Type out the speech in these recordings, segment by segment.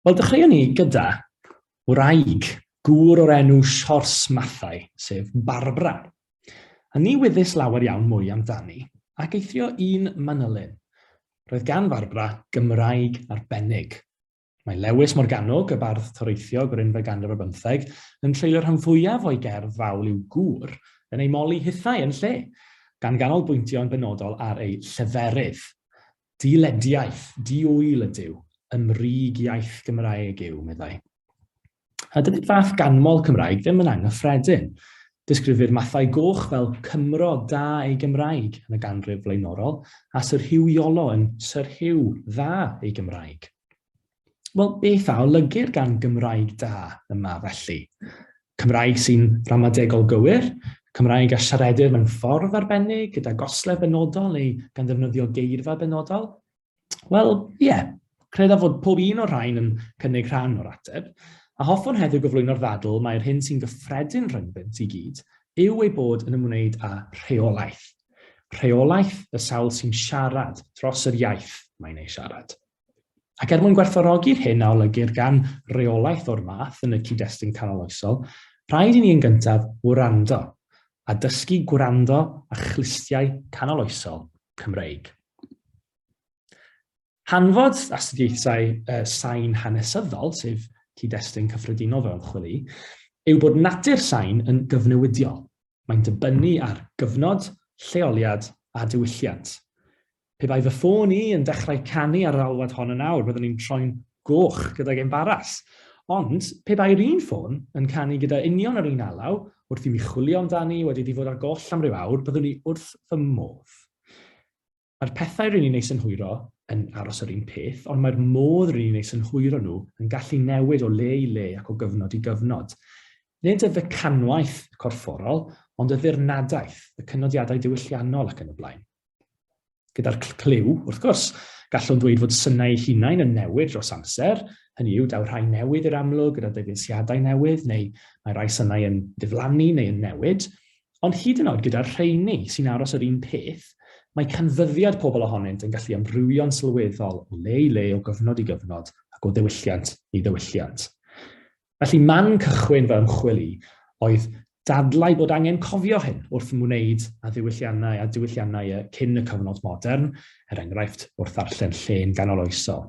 Wel, dechreuwn ni gyda wraig, gŵr o'r enw Siors Mathau, sef Barbara. A ni wyddys lawer iawn mwy amdani, ac eithrio un manylyn. Roedd gan Farbara Gymraeg arbennig. Mae Lewis Morgannwg, y bardd toreithiog o'r unfed ganrif ar bymtheg, yn treulio rhan fwyaf o'i gerdd fawl i'w gŵr yn ei moli hithau yn lle, gan ganolbwyntio'n benodol ar ei lleferydd. Di-lediaeth, di-ŵyl ydyw, y mrig iaith Gymraeg yw, meddai. A dydy'r fath ganmol Cymraeg ddim yn anghyffredin. Disgrifir Mathau Goch fel Cymro da ei Gymraeg yn y ganrif flaenorol, a Syr Hugh Iolo yn Sir Hugh dda ei Gymraeg. Wel, beth a olygir gan Gymraeg da yma felly? Cymraeg sy'n ramadegol gywir, Cymraeg a siaredir mewn ffordd arbennig gyda goslef benodol neu gan ddefnyddio geirfa benodol? Wel, ie, yeah. credaf fod pob un o'r rhain yn cynnig rhan o'r ateb, a hoffwn heddiw gyflwyno'r ddadl mae'r hyn sy'n gyffredin rhyngddynt i gyd yw ei bod yn ymwneud â rheolaeth. Rheolaeth y sawl sy'n siarad dros yr iaith mae'n ei siarad. Ac er mwyn gwerthfawrogi'r hyn a olygir gan reolaeth o'r math yn y cyd-destun canoloesol, rhaid i ni yn gyntaf wrando, a dysgu gwrando â chlustiau canoloesol Cymreig. Hanfod astudiaethau uh, sain hanesyddol, sef cyd-destun cyffredinol fel ymchwil i, yw bod natur sain yn gyfnewidiol. Mae'n dibynnu ar gyfnod, lleoliad a diwylliant. Pe bai fy ffôn i yn dechrau canu ar yr alwad hon yn awr, byddwn i'n troi'n goch gydag embaras. Ond, pe bai'r un ffôn yn canu gyda union yr un alaw, wrth i mi chwilio amdani, wedi iddi fod ar goll am ryw awr, byddwn i wrth fy modd. Mae'r pethau ry'n ni'n eu synhwyro yn aros yr un peth, ond mae'r modd ry'n ni'n eu synhwyro nhw yn gallu newid o le i le ac o gyfnod i gyfnod. Nid y fecanwaith corfforol, ond y ddirnadaeth, y cynodiadau diwylliannol ac yn y blaen. Gyda'r clyw, wrth gwrs, gallwn ddweud fod synau eu hunain yn newid dros amser, hynny yw, daw rhai newydd i'r amlwg gyda dyfeisiadau newydd, neu mae rhai synau yn diflannu neu yn newid, ond hyd yn oed gyda'r rheini sy'n aros yr un peth, mae canfyddiad pobl ohonynt yn gallu amrywio'n sylweddol o le i le, o gyfnod i gyfnod, ac o ddiwylliant i ddiwylliant. Felly, man cychwyn fy ymchwil i oedd dadlau bod angen cofio hyn wrth wneud a ddiwylliannau a diwylliannau y cyn y cyfnod modern, er enghraifft, wrth ddarllen llên ganoloesol.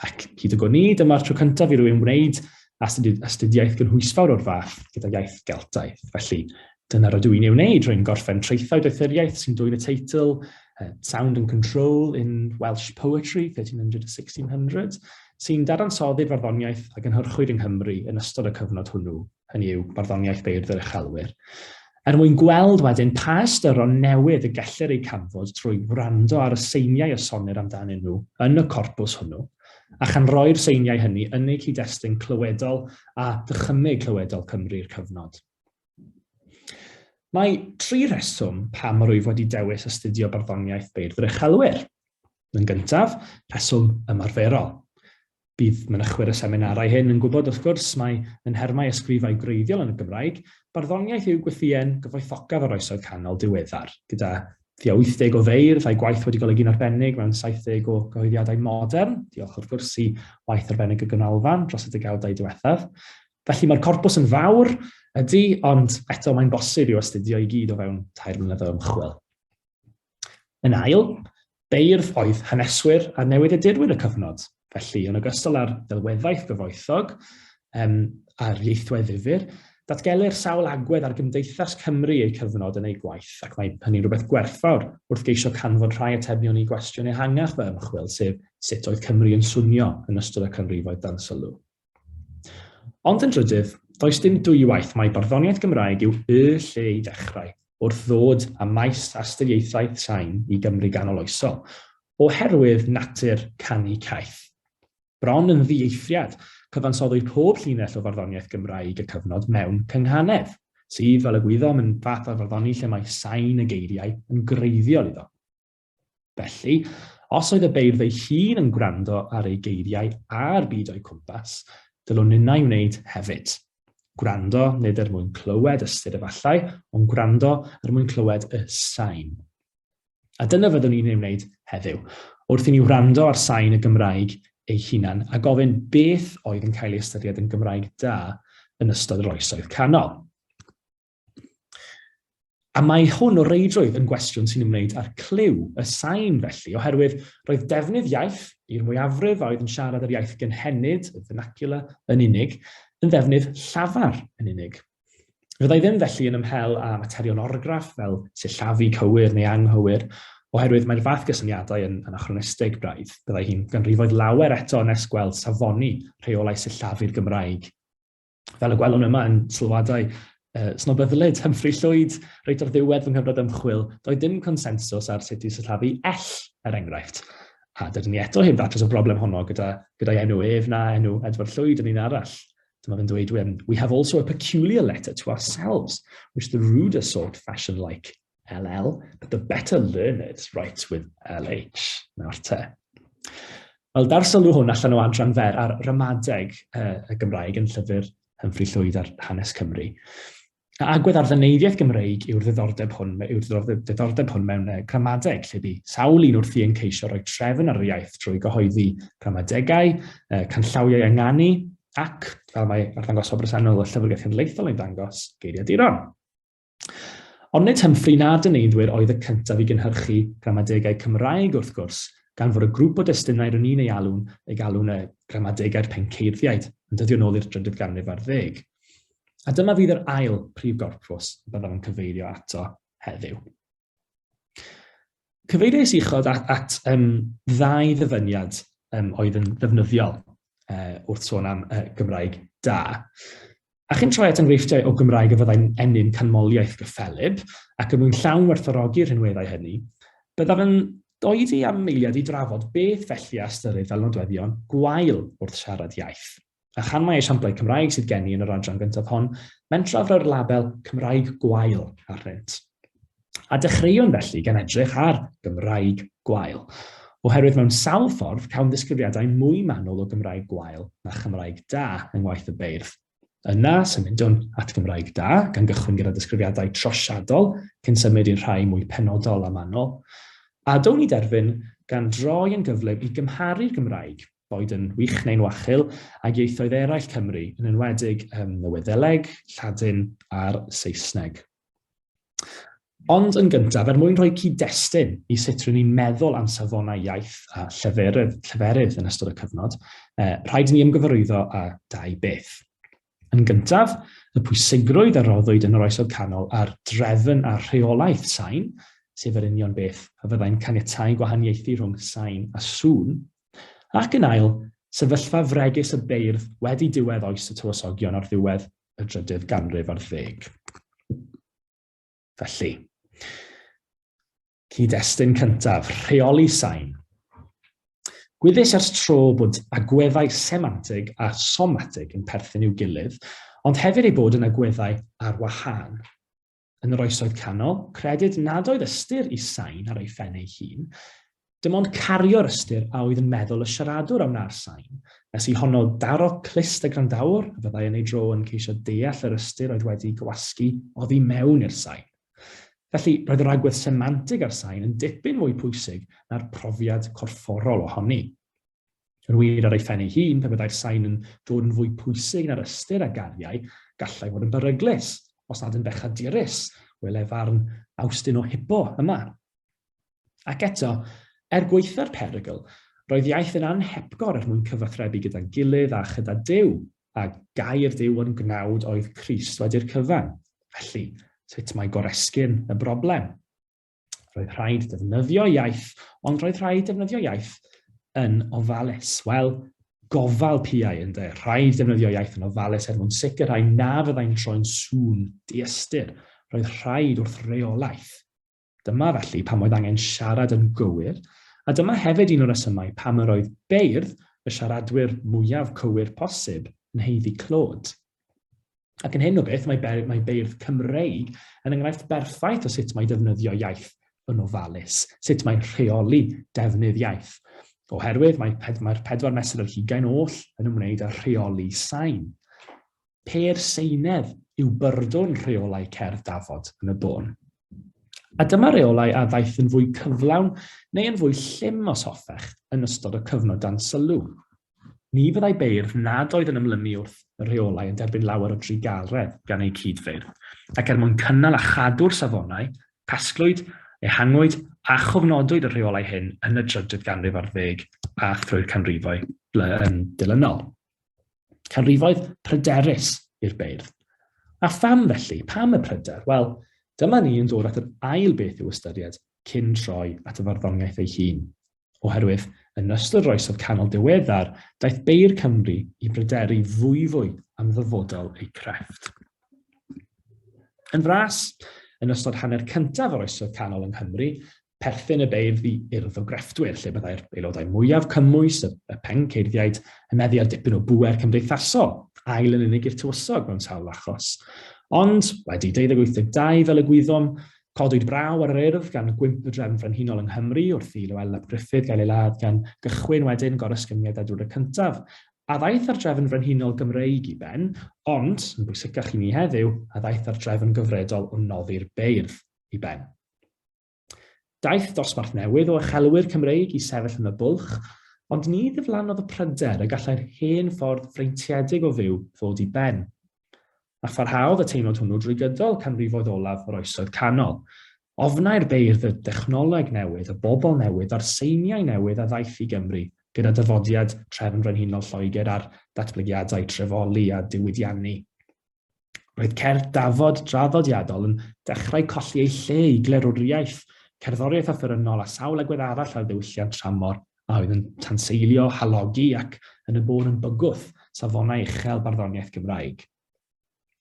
Ac hyd y gwni, dyma'r tro cyntaf i rywun wneud astudiaeth gynhwysfawr o'r fath gyda iaith Geltaidd. Felly, Dyna rydw i'n ei wneud, rwy'n gorffen traethau doethuriaeth sy'n dwyn y teitl uh, Sound and Control in Welsh Poetry 1300-1600, sy'n dadansoddi'r farddoniaeth a gynhyrchwyd yng Nghymru yn ystod y cyfnod hwnnw, hynny yw barddoniaeth beirdd yr uchelwyr. Er mwyn gweld wedyn pa ystyron newydd y gellir eu canfod trwy wrando ar y seiniau y sonir amdanyn nhw yn y corpws hwnnw, a chan roi'r seiniau hynny yn eu cyd-destun clywedol a dychymyg clywedol Cymru'r cyfnod. Mae tri rheswm pam yr wyf wedi dewis astudio barddoniaeth beirdd uchelwyr. Yn gyntaf, rheswm ymarferol. Bydd mynychwyr y seminarau hyn yn gwybod wrth gwrs mai yn nhermau ysgrifau gwreiddiol yn y Gymraeg, barddoniaeth yw gwythïen gyfoethocaf yr oesoedd canol diweddar, gyda thua 80 o feirdd a'u gwaith wedi golygu'n arbennig mewn 70 o gyhoeddiadau modern, diolch wrth gwrs i waith arbennig y Ganolfan dros y degawdau diwethaf. Felly mae'r corpws yn fawr, ydy, ond eto mae'n bosib i'w astudio i gyd o fewn tair mlynedd o ymchwil. Yn ail, beirdd oedd haneswyr a newidiadurwyr y cyfnod. Felly, yn ogystal â'r delweddaeth gyfoethog um, a'r ieithwedd ddifur, datgelir sawl agwedd ar gymdeithas Cymru eu cyfnod yn eu gwaith, ac mae hynny'n rhywbeth gwerthfawr wrth geisio canfod rhai atebion i gwestiwn ehangach fy ymchwil, sef sut oedd Cymru yn swnio yn ystod y canrifoedd dan sylw. Ond yn drydydd, does dim dwywaith mai barddoniaeth Gymraeg yw y lle i ddechrau wrth ddod â maes astudiaethau sain i Gymru ganoloesol, oherwydd natur canu caeth. Bron yn ddieithriad, cyfansoddwyd pob llinell o farddoniaeth Gymraeg y cyfnod mewn cynghanedd, sydd, fel y gwyddom, yn fath o farddoni lle mae sain y geiriau yn greiddiol iddo. Felly, os oedd y beirdd ei hun yn gwrando ar ei geiriau a'r byd o'i cwmpas, dylwn ninnau wneud hefyd. Gwrando nid er mwyn clywed ystyr efallai, ond gwrando er mwyn clywed y sain. A dyna fyddwn ni'n ei wneud heddiw, wrth i ni wrando ar sain y Gymraeg ei hunan a gofyn beth oedd yn cael ei ystyried yn Gymraeg da yn ystod yr oesoedd canol. A mae hwn o reidrwydd yn gwestiwn sy'n ymwneud â'r clyw, y sain felly, oherwydd roedd defnydd iaith i'r mwyafrif a oedd yn siarad yr iaith gynhenid, y vernacular, yn unig, yn ddefnydd llafar yn unig. Fyddai ddim felly yn ymhel â materion orgraff fel sillafu cywir neu anghywir, oherwydd mae'r fath gysyniadau yn, yn achronistig braidd. Byddai hi'n ganrifoedd lawer eto nes gweld safoni rheolau sillafu'r Gymraeg. Fel y gwelwn yma yn sylwadau uh, snobyddlyd Humphrey Llwyd, reit o'r ddiwedd fy nghyfnod ymchwil, doedd dim consensws ar sut i sillafu ell, er enghraifft. A dydyn ni eto heb ddatrys y broblem honno gyda, gyda'i enw ef na enw Edward Llwyd yn un arall. Dyma fe'n dweud, we have also a peculiar letter to ourselves, which the ruder sort fashion like LL, but the better learners write with LH. Nawr te. Wel, dar sylw hwn allan o adran fer ar ramadeg uh, y Gymraeg yn llyfr Humphrey Llwyd ar hanes Cymru. A agwedd ar ddyneiddiaeth Gymreig yw'r ddiddordeb hwn, yw'r ddiddordeb hwn mewn uh, gramadeg, lle bu sawl un wrthi yn ceisio rhoi trefn ar yr iaith drwy gyhoeddi gramadegau, uh, canllawiau ynganu, ac, fel mae arddangos o bresennol y llyfrgell cenedlaethol yn dangos, geiriaduron. Ond nid Humphrey na dyneiddwyr oedd y cyntaf i gynhyrchu gramadegau Cymraeg wrth gwrs, gan fod y grŵp o destunau rŷn ni'n ei alw'n ei galw'n y Gramadegau'r Penceiddiaid yn dyddio nôl i'r drydydd ganrif ar ddeg. A dyma fydd yr ail brif gorpws y byddaf yn cyfeirio ato heddiw. Cyfeiriais uchod at, at um, ddau ddyfyniad um, oedd yn ddefnyddiol uh, wrth sôn am uh, Gymraeg da. A chi'n troi at enghreifftiau o Gymraeg y fyddai'n ennyn canmoliaeth gyffelib ac yn mwyn llawn werthorogi'r rhinweddau hynny, byddaf yn doedi am meiliad i drafod beth felly a ystyrir fel nodweddion gwael wrth siarad iaith. A chan mai esiamplau Cymraeg sydd gen i yn yr adran gyntaf hon, mentraf roi'r label Cymraeg Gwael arnynt. A dechreuwn felly gan edrych ar Gymraeg Gwael, oherwydd mewn sawl ffordd cawn ddisgrifiadau mwy manwl o Gymraeg Gwael na Chymraeg Da yng ngwaith y beirdd. Yna, symudwn at Gymraeg Da, gan gychwyn gyda disgrifiadau trosiadol, cyn symud i'n rhai mwy penodol a manwl. A down i derfyn gan droi yn gyflym i gymharu'r Gymraeg boed yn wych neu'n wachul, ag ieithoedd eraill Cymru, yn enwedig um, y Wyddeleg, Lladin a'r Saesneg. Ond yn gyntaf, er mwyn rhoi cyd-destun i sut rydyn ni'n meddwl am safonau iaith a lleferydd, lleferydd yn ystod y cyfnod, eh, rhaid i ni ymgyfarwyddo â dau beth. Yn gyntaf, y pwysigrwydd a roddwyd yn yr Oesoedd Canol ar drefn a rheolaeth sain, sef yr union beth a fyddai'n caniatáu gwahaniaethu rhwng sain a sŵn, ac yn ail, sefyllfa fregus y beirdd wedi diwedd oes y tywysogion ar ddiwedd y drydydd ganrif ar ddeg. Felly, Cyd-destun cyntaf, rheoli sain. Gwyddys ers tro bod agweddau semantig a somatig yn perthyn i'w gilydd, ond hefyd ei bod yn agweddau ar wahân. Yn yr oesoedd canol, credid nad oedd ystyr i sain ar ei phen ei hun, dim ond cario'r ystyr a oedd yn meddwl y siaradwr a wna'r sain, nes i honno daro clust y grandawr, a fyddai yn ei dro yn ceisio deall yr ystyr oedd wedi gwasgu oddi mewn i'r sain. Felly, roedd yr agwedd semantig ar sain yn dipyn mwy pwysig na'r profiad corfforol ohoni. Yn wir, ar ei phen ei hun, pe byddai'r sain yn dod yn fwy pwysig na'r ystyr a gariai, gallai fod yn beryglus, os nad yn bechadurus, wele farn Awstin o Hippo yma. Ac eto, er gwaetha'r perygl, roedd iaith yn anhepgor er mwyn cyfathrebu gyda'n gilydd a chyda Duw, a gair Duw yn gnawd oedd Crist wedi'r cyfan. Felly, sut mae goresgyn y broblem? Roedd rhaid defnyddio iaith, ond roedd rhaid defnyddio iaith yn ofalus. Wel, gofal piau yn de. Rhaid defnyddio iaith yn ofalus er mwyn sicrhau na fyddai'n troi'n sŵn diystyr. Roedd rhaid wrth reolaeth. Dyma felly pam oedd angen siarad yn gywir, a dyma hefyd un o'r resymau pam yr oedd beirdd y siaradwyr mwyaf cywir posib yn haeddu clod. Ac yn hyn o beth, mae, be mae beirdd Cymreig yn enghraifft berffaith o sut mae defnyddio iaith yn ofalus, sut mae rheoli defnydd iaith. Oherwydd mae'r mae pedwar mesur yr hugain oll yn ymwneud â rheoli sain. Pêr Seinedd yw byrdwn rheolau cerdd dafod yn y bôn. A dyma reolau a ddaeth yn fwy cyflawn neu yn fwy llym os hoffech yn ystod y cyfnod dan sylw. Ni fyddai beirdd nad oedd yn ymlymu wrth y rheolau yn derbyn lawer o drugaredd gan eu cyd-feirdd, ac er mwyn cynnal a chadw'r safonau, casglwyd, ehangwyd a chofnodwyd y rheolau hyn yn y drydedd ganrif ar ddeg a thrwy'r canrifoedd dilynol. Canrifoedd pryderus i'r beirdd. A pham felly? Pam y pryder? Wel, dyma ni yn dod at yr ail beth i'w ystyried cyn troi at y farddoniaeth ei hun. Oherwydd, yn ystod yr oesodd canol diweddar, daeth beir Cymru i bryderu fwyfwy am ddyfodol eu crefft. Yn fras, yn ystod hanner cyntaf yr oesoedd canol yng Nghymru, perthyn y beirdd i urdd o grefftwyr, lle byddai'r aelodau mwyaf cymwys, y, y penceirdiaid, yn meddu ar dipyn o bwer cymdeithasol, ail yn unig i'r tywysog mewn sawl achos. Ond, wedi 1282 fel y gwyddom, codwyd braw ar yr urdd gan gwymp y drefn frenhinol yng Nghymru wrth i Lywel ap Gruffydd gael ei ladd gan gychwyn wedyn gorysgyniad Edward y Cyntaf, a ddaeth ar drefn frenhinol Gymreig i ben, ond, yn bwysicach i ni heddiw, a ddaeth ar drefn gyfredol o noddi'r beirdd i ben. Daeth dosbarth newydd o uchelwyr Cymreig i sefyll yn y bwlch, ond ni ddiflannodd y pryder y gallai'r hen ffordd freintiedig o fyw ddod i ben. A pharhaodd y teimlad hwnnw drwy gydol canrifoedd olaf yr Oesoedd Canol. Ofnai'r beirdd y dechnoleg newydd, y bobl newydd a'r seiniau newydd a ddaeth i Gymru gyda dyfodiad Trefn Frenhinol Lloegr a'r datblygiadau trefoli a diwydiannu. Roedd cerdd dafod draddodiadol yn dechrau colli ei lle i glerwriaeth, cerddoriaeth offerynnol a sawl agwedd arall ar ddiwylliant tramor a oedd yn tanseilio, halogi ac, yn y bôn, yn bygwth, safonau uchel barddoniaeth Gymraeg.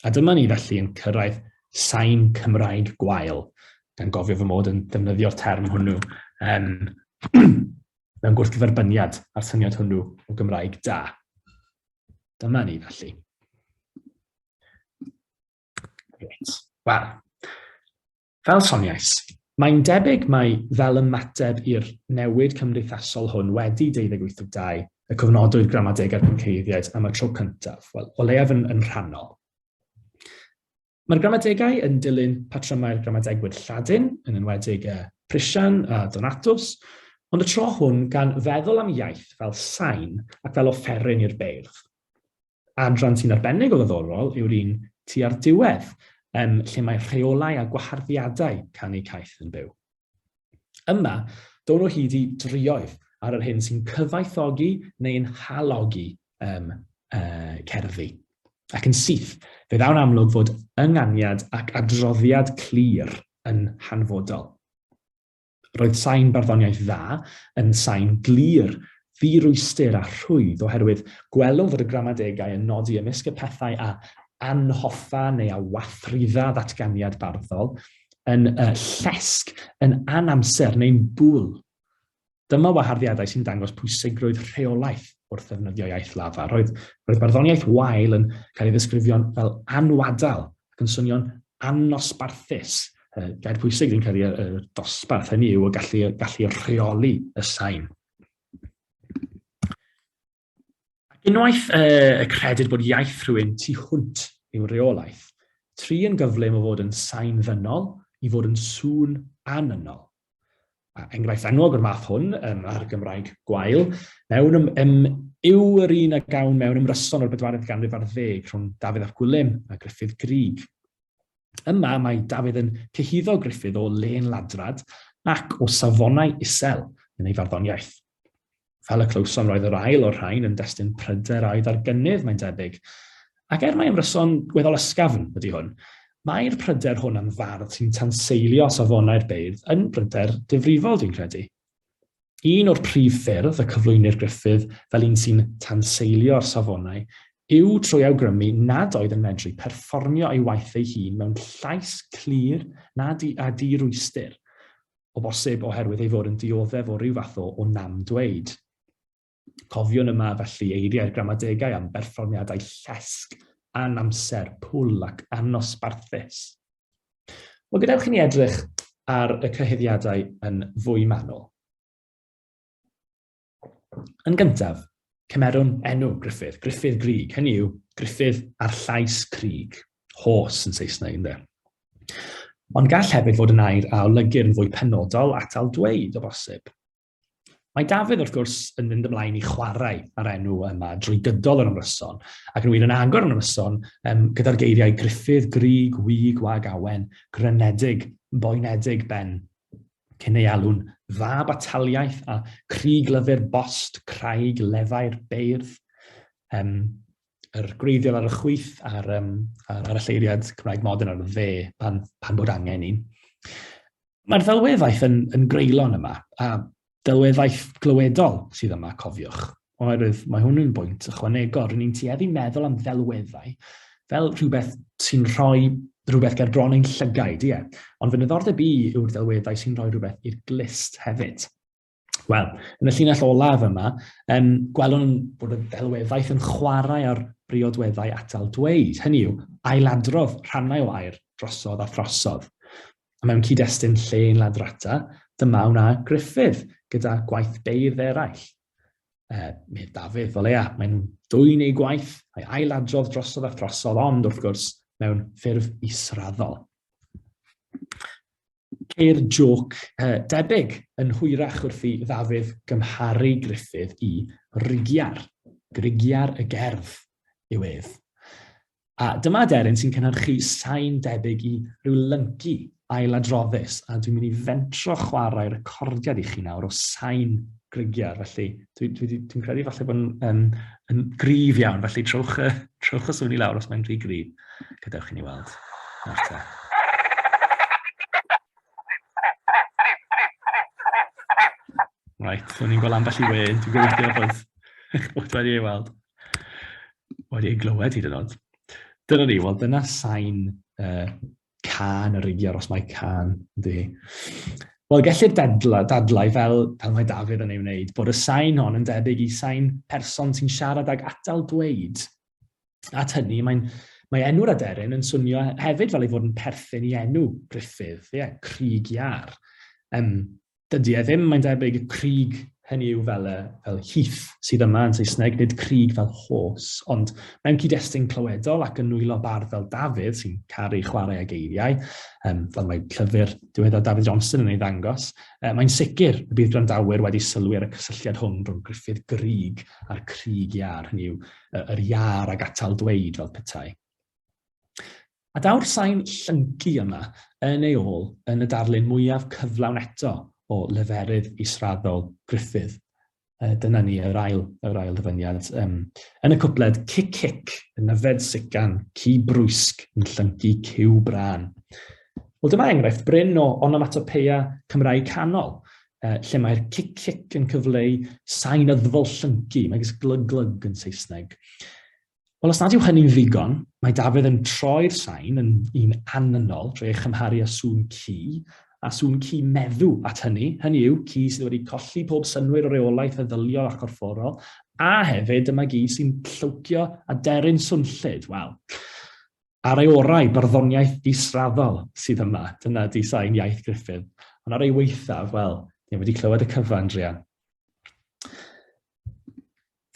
A dyma ni felly yn cyrraedd sain Cymraeg gwael, gan gofio fy mod yn defnyddio'r term hwnnw um, mewn gwrthgyferbyniad â'r syniad hwnnw o Gymraeg da. Dyma ni felly. Reit. Wel, fel soniais, mae'n debyg mai fel ymateb i'r newid cymdeithasol hwn wedi 28.2 y cofnodwyd gramadeg a'r cynceiddiaid am y tro cyntaf, wel, o leiaf yn, yn rhannol. Mae'r gramadegau yn dilyn patrymau'r gramadegwyr Lladin, yn enwedig y Prisian a Donatus, ond y tro hwn gan feddwl am iaith fel sain ac fel offeryn i'r beirdd. Adran sy'n arbennig o ddoddorol yw'r un tua'r diwedd, um, lle mae rheolau a gwaharddiadau canu caeth yn byw. Yma, down o hyd i drioedd ar yr hyn sy'n cyfaethogi neu'n halogi um, uh, cerddi. Ac yn syth, fe ddawn amlwg fod ynganiad ac adroddiad clir yn hanfodol. Roedd sain barddoniaeth dda yn sain glir ddirwystur a rhwydd oherwydd gwelwn fod y gramadegau yn nodi ymysg y pethau a anhoffa neu a wathridda ddatganiad barddol, yn y llesg, yn anamser neu'n bwl. Dyma waharddiadau sy'n dangos pwysigrwydd rheolaeth wrth ddefnyddio iaith lafa. Roedd, roedd barddoniaeth wael yn cael ei ddisgrifio'n fel anwadal ac yn swnio'n annosbarthus. Gair pwysig sy'n cael ei dosbarth, hynny yw y gallu, gallu rheoli y sain. Ac unwaith y credyd bod iaith rhywun tu hwnt i'w reolaeth, tri yn gyflym o fod yn sain ddynol i fod yn sŵn anynol. A enghraifft enwog o'r math hwn, um, ar Gymraeg gwael, mewn ym, ym, yw yr un a gawn mewn ymryson o'r bedwaredd ganrif ar ddeg rhwng Dafydd ap Gwilym a Griffith Grig. Yma mae Dafydd yn cyhuddo Griffith o len ladrad ac o safonau isel yn ei farddoniaeth. Fel y clywsom, roedd yr ail o'r rhain yn destun pryder a'i ddargynydd, mae'n debyg. Ac er mae ymryson gweddol ysgafn ydy hwn, mae'r pryder hwn am fardd sy'n tanseilio safonau'r beirdd yn bryder difrifol, dwi'n credu. Un o'r prif ffyrdd y cyflwynir Griffith fel un sy'n tanseilio'r safonau yw trwy awgrymu nad oedd yn medru perfformio ei waith ei hun mewn llais clir na di, a di-rwystyr. o bosib oherwydd ei fod yn dioddef o ryw fath o, o nam dweud. Cofiwn yma felly eiriau'r gramadegau am berfformiadau llesg, anamser, pwl ac annosbarthus. Wel, gadewch i ni edrych ar y cyhuddiadau yn fwy manwl. Yn gyntaf, cymerwn enw Griffith, Griffith Grig, hynny yw Griffith a'r llais Crig, hos yn Saesneg ynddo. Ond gall hefyd fod yn air a olygir yn fwy penodol atal dweud o bosib. Mae Dafydd, wrth gwrs, yn mynd ymlaen i chwarae ar enw yma drwy gydol yr ymryson, ac yn wir yn agor yn ymryson um, gyda'r geiriau Griffith, Grig, Wig, Wag, Awen, Grynedig, Boenedig, Ben, cyn ei alw'n dda bataliaeth a crig lyfr bost craig lefau'r beirdd, um, yr gwreiddiol ar y chwyth a'r, um, ar, ar y lleiriad Cymraeg modern ar y dde pan, pan bod angen un. Mae'r ddelweddaeth yn, yn greulon yma, a delweddaeth glywedol sydd yma, cofiwch. Oherwydd mae hwn yn bwynt ychwanegol, rydyn ni'n tueddu meddwl am ddelweddau fel rhywbeth sy'n rhoi rhywbeth ger bron ein llygaid, ie. Ond fy niddordeb i yw'r delweddau sy'n rhoi rhywbeth i'r glist hefyd. Wel, yn y llinell olaf yma, um, gwelwn bod y delweddaeth yn chwarae ar briodweddau atal dweud, hynny yw, ailadrodd rhannau o air drosodd a throsodd. A mewn cyd-destun lle yn ladrata, dyma wna Griffith gyda gwaith beirdd eraill, Uh, Medd Dafydd, o leia, mae'n dwy'n ei gwaith, a'i ailadrodd drosodd a throsodd, ond wrth gwrs, mewn ffurf israddol. Ceir joc uh, debyg yn hwyrach wrth i Ddafydd gymharu Griffith i Rigiar. Grigiar y gerdd yw ef. A dyma aderyn sy'n cynhyrchu sain debyg i ryw lyncu ailadroddus, a dwi'n mynd i fentro chwarae recordiad i chi nawr o sain grigiar, felly dwi'n dwi, dwi, dwi credu falle bod yn, yn, yn grif iawn, felly trowch, trowch y swn i lawr os mae'n rhy grif. Gadewch i ni weld. Nawr Right, so ni'n gweld ambell i we, dwi'n gobeithio bod, bod wedi ei weld. Wedi ei glywed hyd yn oed. Dyna ni, wel dyna sain uh, can yr igiar os mae can di. Wel, gellir dadlau, dadlau fel pan mae Dafydd yn ei wneud, bod y sain hon yn debyg i sain person sy'n siarad ag atal dweud. At hynny, mae'n mae enw'r aderyn yn swnio hefyd fel ei fod yn perthyn i enw Griffith, ie, yeah, Crig Iar. Um, Dydy e ddim, mae'n debyg, y crig hynny yw fel, fel heath sydd yma yn Saesneg, nid crig fel horse, ond mewn cyd-destun clywedol ac yn nwylo bardd fel Dafydd, sy'n caru chwarae ag eiriau, um, fel mae llyfr diweddar Dafydd Johnson yn ei ddangos, uh, mae'n sicr y bydd gwrandawyr wedi sylwi ar y cysylltiad hwn rhwng Griffith Grig a'r crig iar, hynny yw, yr iar ag atal dweud fel petai. A daw'r sain llyncu yma yn ei ôl yn y darlun mwyaf cyflawn eto o leferydd israddol Griffith. Uh, dyna ni, yr ail, yr ail ddyfyniad. Um, yn y cwpled, cic cic, yn nyfed sican, ci brwysg, yn llyncu cyw brân. Wel, dyma enghraifft bryn o onomatopeia Cymraeg canol, uh, lle mae'r cic cic yn cyfleu sain yddfol llyncu, megis glyg glyg yn Saesneg. Wel, os nad yw hynny'n ddigon, mae Dafydd yn troi'r sain yn un anynol drwy ei chymharu â sŵn ci, a sŵn ci meddw at hynny, hynny yw, ci sydd wedi colli pob synwyr o reolaeth feddyliol a chorfforol, a hefyd dyma gi sy'n llwcio a deryn swnllyd, wel, ar ei orau, barddoniaeth israddol sydd yma, dyna di sain iaith Griffith, ond ar ei weithaf, wel, ni wedi clywed y cyfan, Drian.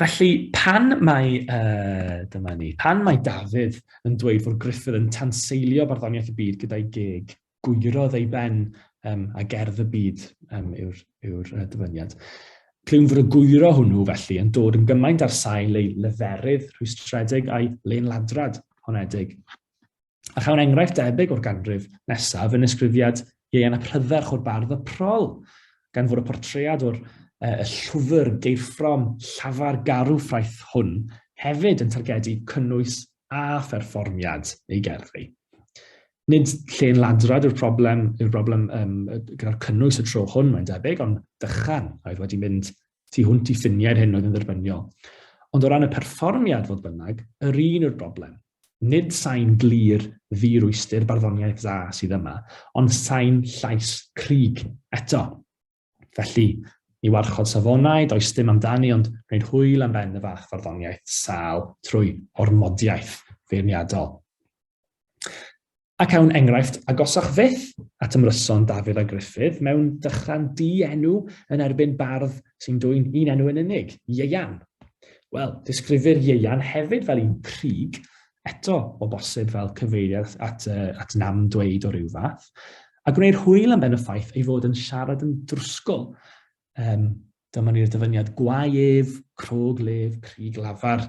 Felly, pan mae, uh, dyma ni, pan mae Dafydd yn dweud fod Griffith yn tanseilio barddoniaeth y byd gyda'i geg, gwyrodd ei ben um, a gerdd y byd um, yw'r yw uh, dyfyniad. Clywn fod y gwyro hwnnw felly yn dod yn gymaint ar sail ei leferydd rhwystredig a'i lenladrad honedig. A chawn enghraifft debyg o'r ganrif nesaf yn ysgrifiad Ieuan ap Rhydderch o'r bardd y prol, gan fod y portread o'r uh, y llwfr geirffrom llafar garw ffraeth hwn hefyd yn targedu cynnwys a pherfformiad ei gerddi. Nid lle yn ladrad yw'r problem, yw'r broblem um, gyda'r cynnwys y tro hwn, mae'n debyg, ond dychan oedd wedi mynd tu hwnt i ffiniau yr hyn oedd yn dderbyniol. Ond o ran y perfformiad, fodd bynnag, yr un yw'r broblem. Nid sain glir ddi-rwystyr barddoniaeth dda sydd yma, ond sain llais cryg eto. Felly, ni warchod safonau, does dim amdani, ond gwneud hwyl am ben y fath farddoniaeth sâl trwy ormodiaeth feirniadol. Ac awn enghraifft agosach fyth at ymryson Dafydd a Gruffydd mewn dychran di-enw yn erbyn bardd sy'n dwyn un enw yn unig, Ieuan. Wel, disgrifir Ieuan hefyd fel un prig, eto o bosib fel cyfeiriad at, uh, at nam dweud o ryw fath, a gwneir hwyl am ben y ffaith ei fod yn siarad yn drwsgl, um, Dyma ni'r dyfyniad gwau ef, crog lef, crig lafar,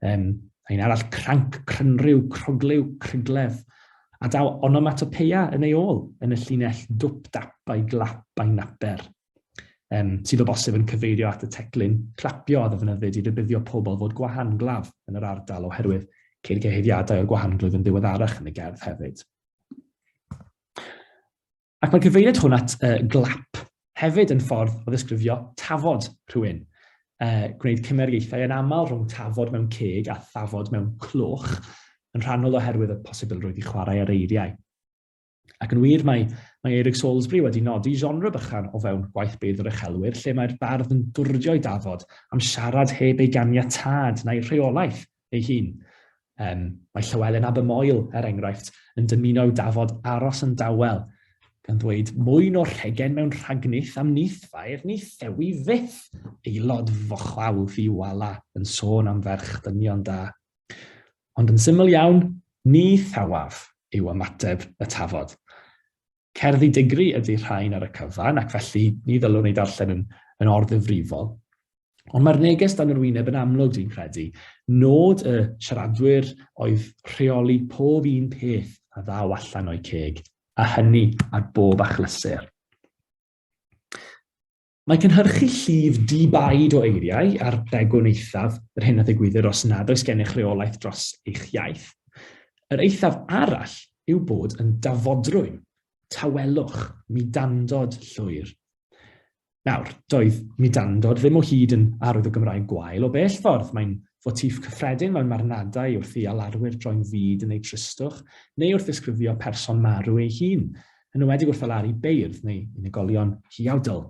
um, a un arall cranc, crynryw, croglyw, cryglef, a daw onomatopeia yn ei ôl yn y llinell dwp dap a'i glap a'i naper, um, sydd o bosib yn cyfeirio at y teclyn clapio a ddefnyddid i rybuddio pobl fod gwahanglaf yn yr ardal oherwydd ceir cyhuddiadau o'r gwahanglwyf yn ddiweddarach yn y gerdd hefyd. Ac mae'n cyfeiriad hwn at uh, glap hefyd yn ffordd o ddisgrifio tafod rhywun. Uh, gwneud cymeriaethau yn aml rhwng tafod mewn ceg a thafod mewn cloch, yn rhannol oherwydd y posibilrwydd i chwarae ar eiriau. Ac yn wir, mae, mae Eric Salisbury wedi nodi genre bychan o fewn gwaith beirdd yr uchelwyr, lle mae'r bardd yn dwrdio i dafod am siarad heb ei ganiatad na'i rheolaeth – ei hun. Um, mae Llywelyn Abermoel, er enghraifft, yn dymuno i'w dafod aros yn dawel, gan ddweud mwy o rhegen mewn rhagnith am nith fair ni thewi fyth. Aelod fochlaw fi wala yn sôn am ferch dynion da. Ond yn syml iawn, ni thawaf yw ymateb y tafod. Cerddi digri ydy'r rhain ar y cyfan, ac felly ni ddylwn ei darllen yn, yn orddyfrifol. Ond mae'r neges dan yr wyneb yn amlwg, dwi'n credu. Nod y siaradwyr oedd rheoli pob un peth a ddaw allan o'i ceg, a hynny ar bob achlysur. Mae cynhyrchu llif di-baid o eiriau a'r degwn eithaf yr hyn a ddigwyddir os nad oes gennych reolaeth dros eich iaith. Yr eithaf arall yw bod yn dafodrwyn, tawelwch, mudandod llwyr. Nawr, doedd mudandod ddim o hyd yn arwydd o Gymraeg gwael o bell ffordd, mae'n fotif cyffredin mewn marwnadau wrth i alarwyr droi'n fud yn eu tristwch neu wrth ddisgrifio person marw ei hun, yn ywedig wrth alaru beirdd neu unigolion huawdl.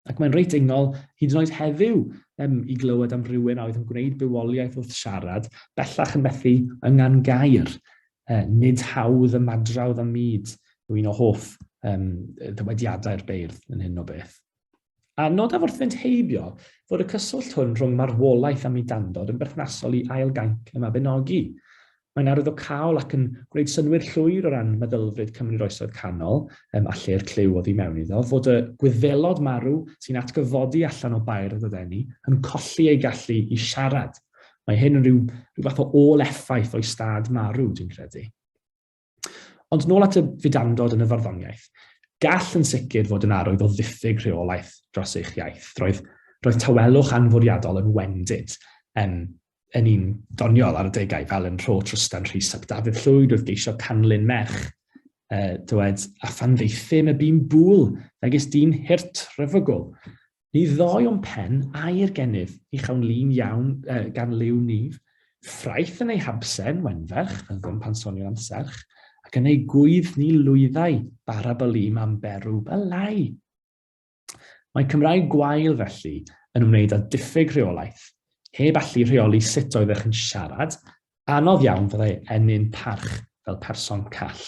Ac mae'n reit ingol, hyd yn oed heddiw, um, i glywed am rywun a oedd yn gwneud bywoliaeth wrth siarad, bellach yn methu yngan gair. Uh, nid hawdd ymadrawdd am myd yw un o hoff um, ddywediadau'r beirdd yn hyn o beth. A nodaf wrth fynd heibio fod y cyswllt hwn rhwng marwolaeth a mudandod yn berthnasol i ail gainc y Mabinogi. Mae'n arwyddocaol ac yn gwneud synwyr llwyr o ran meddylfryd Cymru'r Oesoedd Canol, um, a lle'r clyw oddi mewn iddo, fod y gwyddelod marw sy'n atgyfodi allan o bair y ddydeni yn colli ei gallu i siarad. Mae hyn yn rhyw, rhyw fath o ôl effaith o'i stad marw, dwi'n credu. Ond nôl at y fudandod yn y farddoniaeth. Gall yn sicr fod yn arwydd o ddiffyg rheolaeth dros eich iaith. Roedd, roedd tawelwch anfwriadol yn wendid um, yn un doniol ar y degau, fel yn rho Trystan Rhys ap Dafydd Llwyd oedd geisio canlyn merch. Uh, dywed, a phan ddeithym y bîn bŵl, megis dyn hirt rhyfygol. Ni ddoi o'n pen air gennyf, i chawn lun iawn uh, gan liw nif. Ffraeth yn ei habsen, wenferch, fel ddim pan sonio'n am serch, ac yn ei gwydd ni lwyddau, bara bylîm am berw, bylai! Mae Cymraeg gwael felly yn ymwneud â diffyg rheolaeth, heb allu rheoli sut oeddech yn siarad, anodd iawn fyddai ennyn parch fel person call.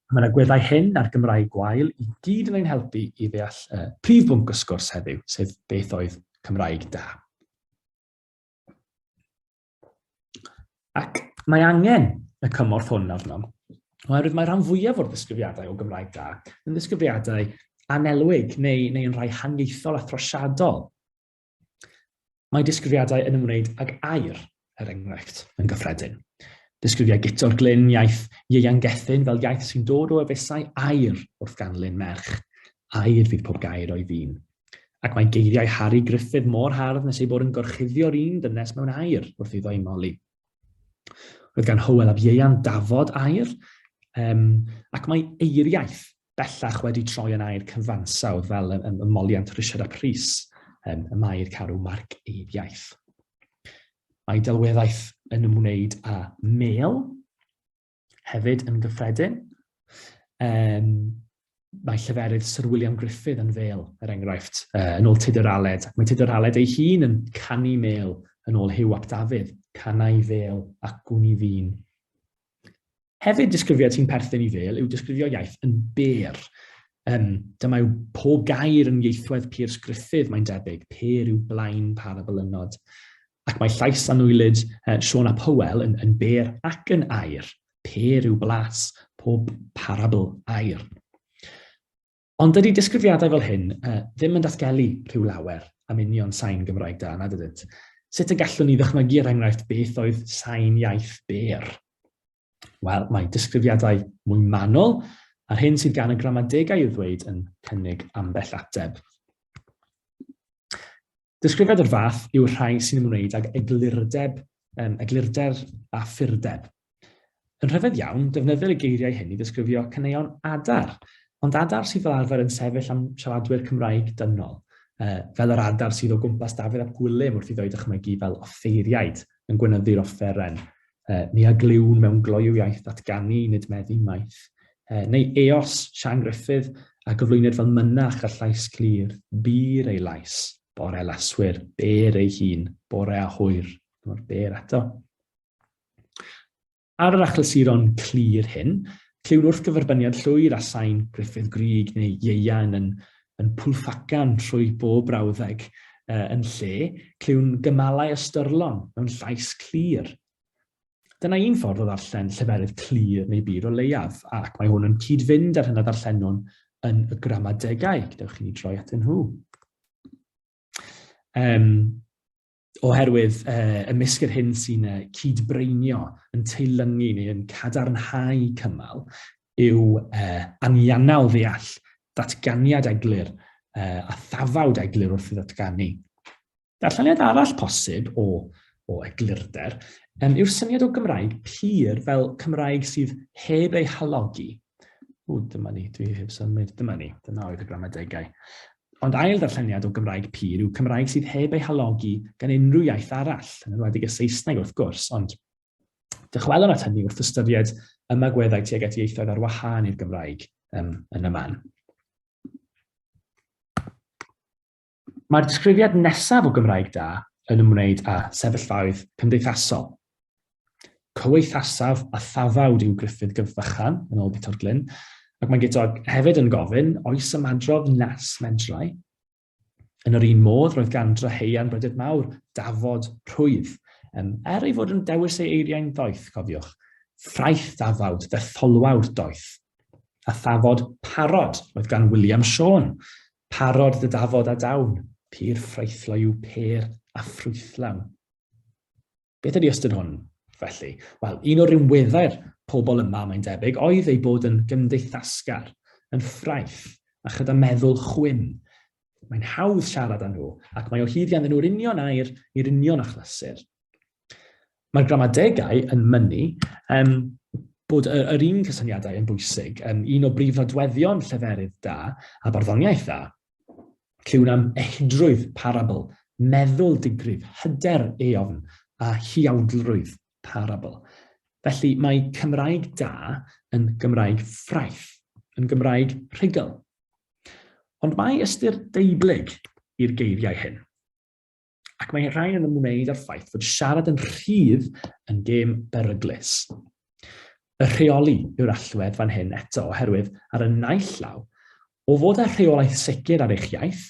Mae yna gweddau hyn a'r Gymraeg gwael i gyd yn ein helpu i ddeall uh, prif bwnc y sgwrs heddiw, sef beth oedd Cymraeg da. Ac mae angen y cymorth hwn arnom, oherwydd mae rhan fwyaf o'r ddisgrifiadau o Gymraeg da yn ddisgrifiadau anelwig neu, neu yn rhai haniaethol a throsiadol. Mae disgrifiadau yn ymwneud ag air, er enghraifft, yn gyffredin. Disgrifiau guto'r glyn iaith ieuan gethyn fel iaith sy'n dod o efesau air wrth ganlyn merch. Air fydd pob gair o'i ddyn. Ac mae geiriau Harri Gruffydd mor hardd nes ei bod yn gorchuddio'r un dynes mewn air wrth iddo ei moli. Roedd gan Hywel ab Ieuan dafod air, um, ac mae eiriaeth bellach wedi troi yn air cyfansawdd fel y, y, y moliant Richard a Pris, um, y mae'r carw marc ei iaith. Mae delweddaeth yn ymwneud â mel, hefyd yn gyffredin. Um, mae lleferydd Sir William Griffith yn fel, er enghraifft, uh, yn ôl Tudur Aled. Mae Tudur Aled ei hun yn canu mel yn ôl Hugh ap Dafydd, canau fel ac gwn i fi'n. Hefyd, disgrifiad sy'n perthyn i fel yw disgrifio iaith yn ber. Um, dyma yw pob gair yn ieithwedd Piers Griffith, mae'n debyg, per yw blaen par a bylynod. Ac mae llais anwylyd uh, Sean a Powell yn, yn ber ac yn air, per yw blas pob parabl air. Ond dydy disgrifiadau fel hyn uh, ddim yn datgelu rhyw lawer am union sain Gymraeg da, nad ydynt. Sut y gallwn ni ddychmygu er enghraifft beth oedd sain iaith ber? Wel, mae disgrifiadau mwy manol a'r hyn sydd gan y gramadegau i'w ddweud yn cynnig ambell ateb. Disgrifiad o'r fath yw'r rhai sy'n ymwneud ag eglurdeb, um, eglurder a ffurdeb. Yn rhyfedd iawn, defnyddir y geiriau hyn i ddisgrifio caneuon adar, ond adar sydd fel arfer yn sefyll am siaradwyr Cymraeg dynol, uh, fel yr adar sydd o gwmpas Dafydd ap Gwilym wrth i ddweud dychmygu fel offeiriaid yn gwynyddu'r offeren. e, ni a glywn mewn gloyw iaith ddatganu nid meddu maith, e, neu eos Sian Griffith a gyflwyned fel mynach a llais clir, bur ei lais, bore laswyr, ber ei hun, bore a hwyr, dyma'r ber eto. Ar yr achlysuron clir hyn, clywn wrth gyferbyniad llwyr a sain Griffith Grig neu ieuan yn yn pwlfacan trwy bob brawddeg yn lle clywn gymalau ystyrlon mewn llais clir. Dyna un ffordd o ddarllen lleferydd clir neu bur o leiaf, ac mae hwn yn cyd-fynd â'r hyn a ddarllenwn yn y gramadegau, gadewch i ni droi atyn nhw. Um, oherwydd uh, ymysg yr hyn sy'n uh, cyd-breinio yn teilyngu neu yn cadarnhau cymal yw uh, anianau ddeall datganiad eglur uh, a thafawd eglur wrth i ddatganu. Darlleniad arall posib o, o eglurder um, yw'r syniad o Gymraeg pur fel Cymraeg sydd heb ei halogi. O, dyma ni, dwi heb symud, dyma ni, dyna oedd y gramadegau. Ond ail ddarlleniad o Gymraeg pur yw Cymraeg sydd heb ei halogi gan unrhyw iaith arall, yn enwedig y Saesneg wrth gwrs, ond dychwelwn at hynny wrth ystyried ymagweddau tuag at ieithoedd ar wahân i'r Gymraeg um, yn y man. Mae'r disgrifiad nesaf o Gymraeg da yn ymwneud â sefyllfaoedd cymdeithasol. Cyweithasaf a thafawd yw Gruffydd gyf fychan, yn ôl Guto'r Glyn, ac mae Guto hefyd yn gofyn, oes ymadrodd nas medrai? Yn yr un modd, roedd gan Dryheuan Brydydd Mawr dafod rhwydd, um, er ei fod yn dewis ei eiriau'n ddoeth, cofiwch. Ffraeth ddafawd, ddetholwawr doeth. A thafod parod, roedd gan William Siôn, parod dy dafod a dawn, pur ffraethloi yw pêr a ffrwythlawn. Beth ydy ystyr hwn, felly? Wel, un o rinweddau'r pobl yma, mae'n debyg, oedd eu bod yn gymdeithasgar, yn ffraith, a chyda meddwl chwyn. Mae'n hawdd siarad â nhw, ac mae o hyd ganddyn nhw'r union air i'r union achlysur. Mae'r gramadegau yn mynnu um, bod yr, yr un cysyniadau yn bwysig, um, un o brif nodweddion lleferydd da a barddoniaeth dda. Clywn am ehidrwydd parabl, meddwl digrif, hyder eofn a huawdlrwydd parabl. Felly mae Cymraeg da yn Gymraeg ffraeth, yn Gymraeg rhugl. Ond mae ystyr deublyg i'r geiriau hyn. Ac mae rhain yn ymwneud â'r ffaith fod siarad yn rhydd yn gêm beryglus. Y rheoli yw'r allwedd fan hyn eto oherwydd ar y naill law, o fod â rheolaeth sicr ar eich iaith,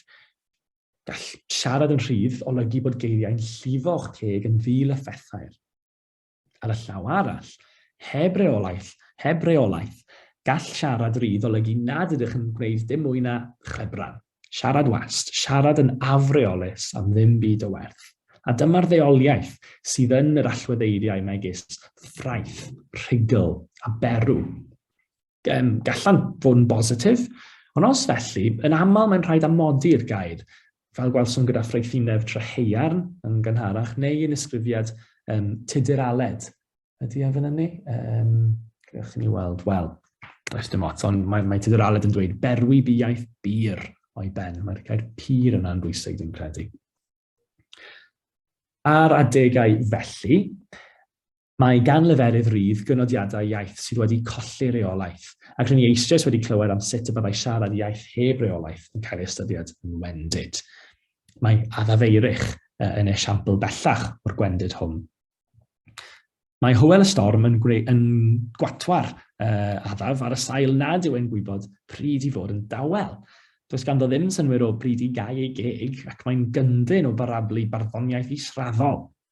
gall siarad yn rhydd olygu bod geiriau'n llifo o'ch teg yn ddi-lyffethair. Ar y llaw arall, heb reolaeth, heb reolaeth, gall siarad rydd olygu nad ydych yn gwneud dim mwy na chwebran. Siarad wast, siarad yn afreolus am ddim byd o werth. A dyma'r ddeoliaeth sydd yn yr allweddeiriau megis ffraeth, rhugl a berw. Gallant fod yn bositif, ond os felly, yn aml mae'n rhaid amodi'r gair fel gwelsom gyda ffraethineb trahaearn yn gynharach, neu yn ysgrifiad um, tudur aled. Ydy e fan hynny? Um, Gwneud chi ni weld, wel, does dim ots, ond mae, mae tudur aled yn dweud berwi bu iaith bur o'i ben. Mae'r gair pur yna'n bwysig, dwi'n credu. Ar adegau felly, Mae gan leferydd rydd gynodiadau iaith sydd wedi colli reolaeth, ac rŷn ni eisoes wedi clywed am sut y byddai siarad iaith heb reolaeth yn cael ei ystyried yn wendid. Mae Adafeirich yn esiampl bellach o'r gwendid hwn. Mae Hywel y Storm yn, yn gwatwar uh, Adaf ar y sail nad yw e'n gwybod pryd i fod yn dawel. Does ganddo ddim synwyr o bryd i gau ei geg ac mae'n gyndyn o barablu barddoniaeth israddol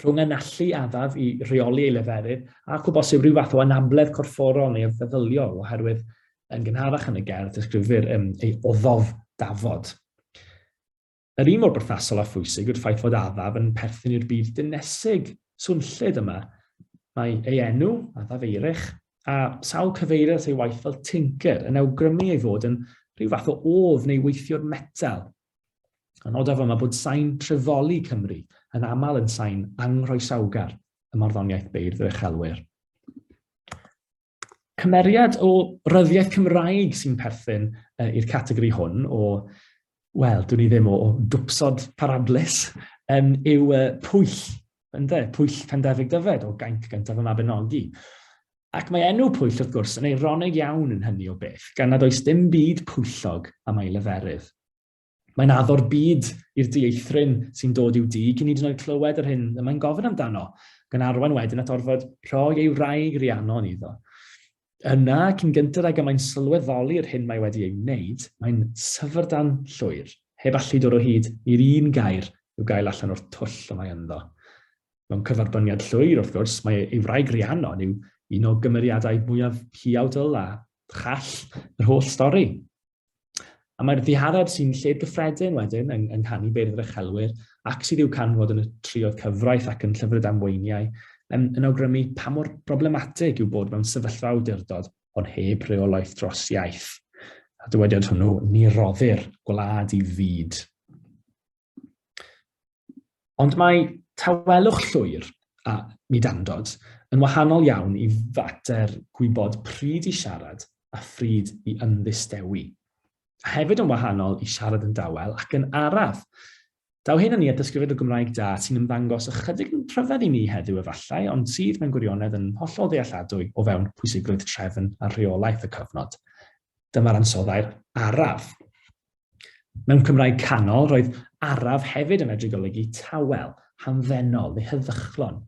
rhwng yn allu adaf i reoli ei leferydd ac o bosib rhyw fath o anabledd corfforol neu feddyliol oherwydd yn gynharach yn y gerdd disgrifir um, ei oddof dafod. Yr un mor berthasol a phwysig yw'r ffaith fod adaf yn perthyn i'r byd dynesig swnllyd yma. Mae ei enw, adaf eirech, a sawl cyfeiriad ei waith fel tinker yn awgrymu ei fod yn rhyw fath o of neu weithiwr metal A nodaf yma bod sain trefoli Cymru yn aml yn sain anghroesawgar y marddoniaeth beirdd yr uchelwyr. Cymeriad o ryddiaeth Cymraeg sy'n perthyn uh, i'r categori hwn o, wel, dwi'n ni ddim o, o dwpsod parablus, um, yw uh, pwyll, ynddo, pwyll Pendefig Dyfed o gaint gyntaf y Mabinogi. Ac mae enw Pwyll, wrth gwrs, yn eironig iawn yn hynny o beth, gan nad oes dim byd pwyllog am ei leferydd. Mae'n addo'r byd i'r dieithryn sy'n dod i'w dŷ cyn hyd yn oed clywed yr hyn y mae'n gofyn amdano, ac yn arwain wedyn at orfod rhoi ei wraig Rhiannon iddo. Yna, cyn gynted ag y mae'n sylweddoli'r hyn mae wedi ei wneud, mae'n syfrdan llwyr, heb allu dod o hyd i'r un gair i'w gael allan o'r twll y mae ynddo. Mewn cyferbyniad llwyr, wrth gwrs, mae ei wraig Rhiannon yw un o gymeriadau mwyaf hiawdl a chall yr holl stori. A mae'r ddihareb sy'n lled gyffredin wedyn yng, yng nghanu beirdd yr uchelwyr ac sydd i'w canfod yn y trioedd cyfraith ac yn llyfrau damweiniau yn, yn awgrymu pa mor broblematig yw bod mewn sefyllfa awdurdod ond heb reolaeth dros iaith. A dywediad hwnnw, ni roddir gwlad i fyd. Ond mae tawelwch llwyr a mudandod yn wahanol iawn i fater gwybod pryd i siarad a phryd i ymddistewi. A hefyd yn wahanol i siarad yn dawel ac yn araf. Daw hyn yn ni at ddysgrifenwr Gymraeg da sy'n ymddangos ychydig yn rhyfedd i ni heddiw efallai, ond sydd mewn gwirionedd yn hollol ddealladwy o fewn pwysigrwydd trefn a rheolaeth y cyfnod. Dyma'r ansoddair araf. Mewn Cymraeg canol, roedd araf hefyd yn medru golygu tawel, hamddenol neu heddychlon,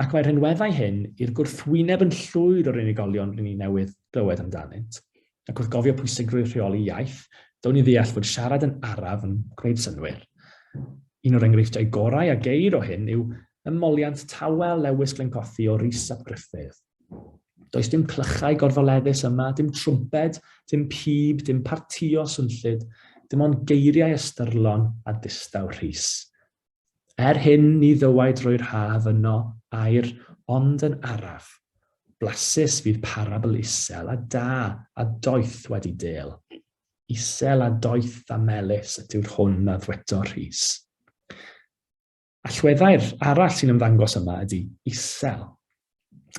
ac mae'r rhinweddau hyn i'r gwrthwyneb yn llwyr o'r unigolion rydyn ni newydd glywed amdanynt. Ac wrth gofio pwysigrwydd rheoli iaith, down ni ddeall fod siarad yn araf yn gwneud synwyr. Un o'r enghreifftiau gorau a geir o hyn yw ymoliant tawel Lewis Glencothi o Rhys ap Gruffudd. Does dim clychau gorfoleddus yma, dim trwmped, dim pib, dim partio swnllyd, dim ond geiriau ystyrlon a distaw rhys. Er hyn ni ddywaid drwy'r haf yno air ond yn araf. Blasus fydd parabl isel a da a doeth wedi del. Isel a doeth a melus ydyw'r hwn a ddweto Rhys. Allweddau'r arall sy'n ymddangos yma ydy isel.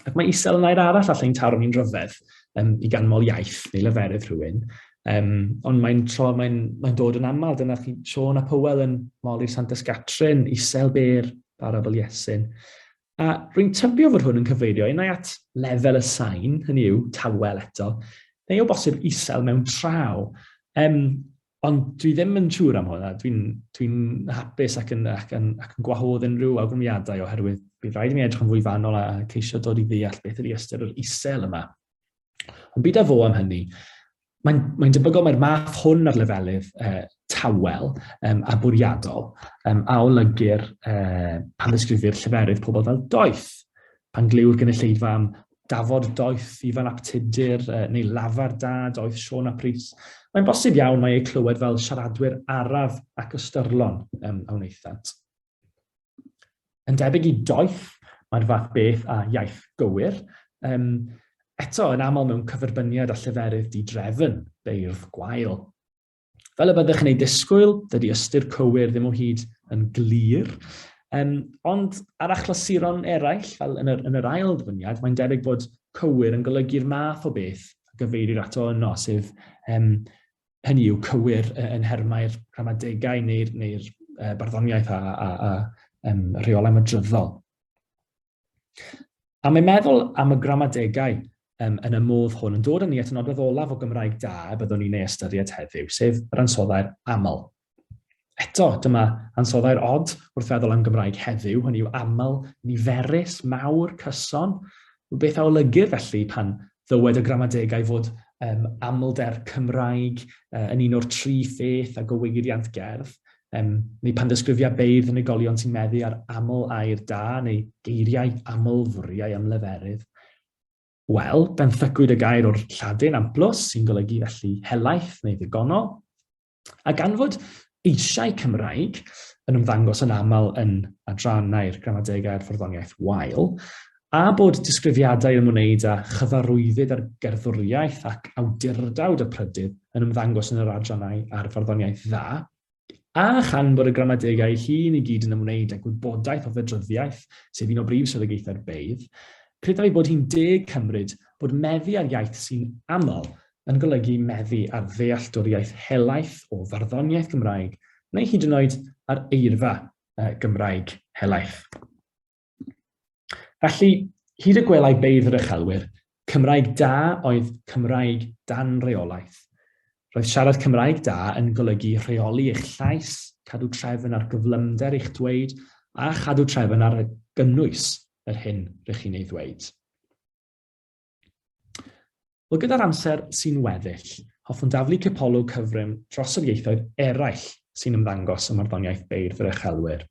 Ac mae isel yn air arall allai'n taro ni'n rhyfedd um, i ganmol iaith neu leferydd rhywun. Um, ond mae'n tro, mae'n mae dod yn aml, dyna chi Sean a Powell yn moli Santes Gatrin, isel byr, barabl Iesyn. A rwy'n tybio fod hwn yn cyfeirio unai at lefel y sain, hynny yw, tawel eto, neu o bosib isel mewn traw. Um, Ond dwi ddim yn siŵr am hwnna. Dwi'n dwi hapus ac yn, ac, yn, ac yn gwahodd unrhyw awgrymiadau oherwydd bydd rhaid i mi edrych yn fwy fanol a ceisio dod i ddeall beth ydy ystyr yr isel yma. Ond byd a fo am hynny, mae'n mae debygol mae'r math hwn ar lefelydd uh, tawel um, a bwriadol um, a olygir uh, pan ddisgrifir lleferydd pobl fel doeth pan glyw'r gynulleidfa am dafod doeth i fel aptudur neu lafar da doeth Siôn ap Rhys. Mae'n bosib iawn mae eu clywed fel siaradwyr araf ac ystyrlon um, a wnaethant. Yn debyg i doeth, mae'r fath beth a iaith gywir, um, eto yn aml mewn cyferbyniad a lleferydd di-drefn, beirdd gwael. Fel y byddwch yn ei disgwyl, dydy ystyr cywir ddim o hyd yn glir, um, ond ar achlysuron eraill, fel yn yr, yn yr ail ddyfyniad, mae'n debyg bod cywir yn golygu'r math o beth a gyfeirir ato yno, sef um, hynny yw cywir yn hermau'r rhamadegau neu'r neu, neu uh, barddoniaeth a, a, a um, rheolau madryddol. A mae'n meddwl am y gramadegau um, yn y modd hwn yn dod yn ni at y nodwedd olaf o Gymraeg da y byddwn ni'n ei ystyried heddiw, sef yr ansoddau'r aml. Eto, dyma ansoddau'r od wrth feddwl am Gymraeg heddiw, hynny yw aml, niferus, mawr, cyson. Beth a olygydd felly pan ddywed y gramadegau fod um, amlder Cymraeg uh, yn un o'r tri pheth a gywir iant gerdd? Um, neu pan ddysgrifia beirdd unigolion sy'n meddu ar aml air da neu geiriau aml fwriau ymleferydd. Wel, benthycwyd y gair o'r Lladin amplus sy'n golygu felly helaeth neu ddigonol. A gan fod eisiau Cymraeg yn ymddangos yn aml yn adrannau'r gramadegau a'r fforddoniaeth wael, A bod disgrifiadau ymwneud â chyfarwyddyd ar gerddoriaeth ac awdurdawd y prydydd yn ymddangos yn yr adrannau ar farddoniaeth dda, a chan bod y gramadegau ei hun i gyd yn ymwneud â gwybodaeth o fedryddiaeth, sef un o brif swyddogaethau'r beirdd, credaf ei bod hi'n deg cymryd bod meddu ar iaith sy'n aml yn golygu meddu ar ddealltwriaeth helaeth o farddoniaeth Gymraeg, neu hyd yn oed ar eirfa Gymraeg helaeth. Felly, hyd y gwelai beidd yr uchelwyr, Cymraeg da oedd Cymraeg dan reolaeth. Roedd siarad Cymraeg da yn golygu rheoli eich llais, cadw trefn ar gyflymder eich dweud, a chadw trefn ar gynnwys yr hyn rydych chi'n ei ddweud. Wel, gyda'r amser sy'n weddill, hoffwn daflu cipolwg cyfrym dros yr ieithoedd eraill sy'n ymddangos ym Marddoniaeth Beirdd yr Uchelwyr.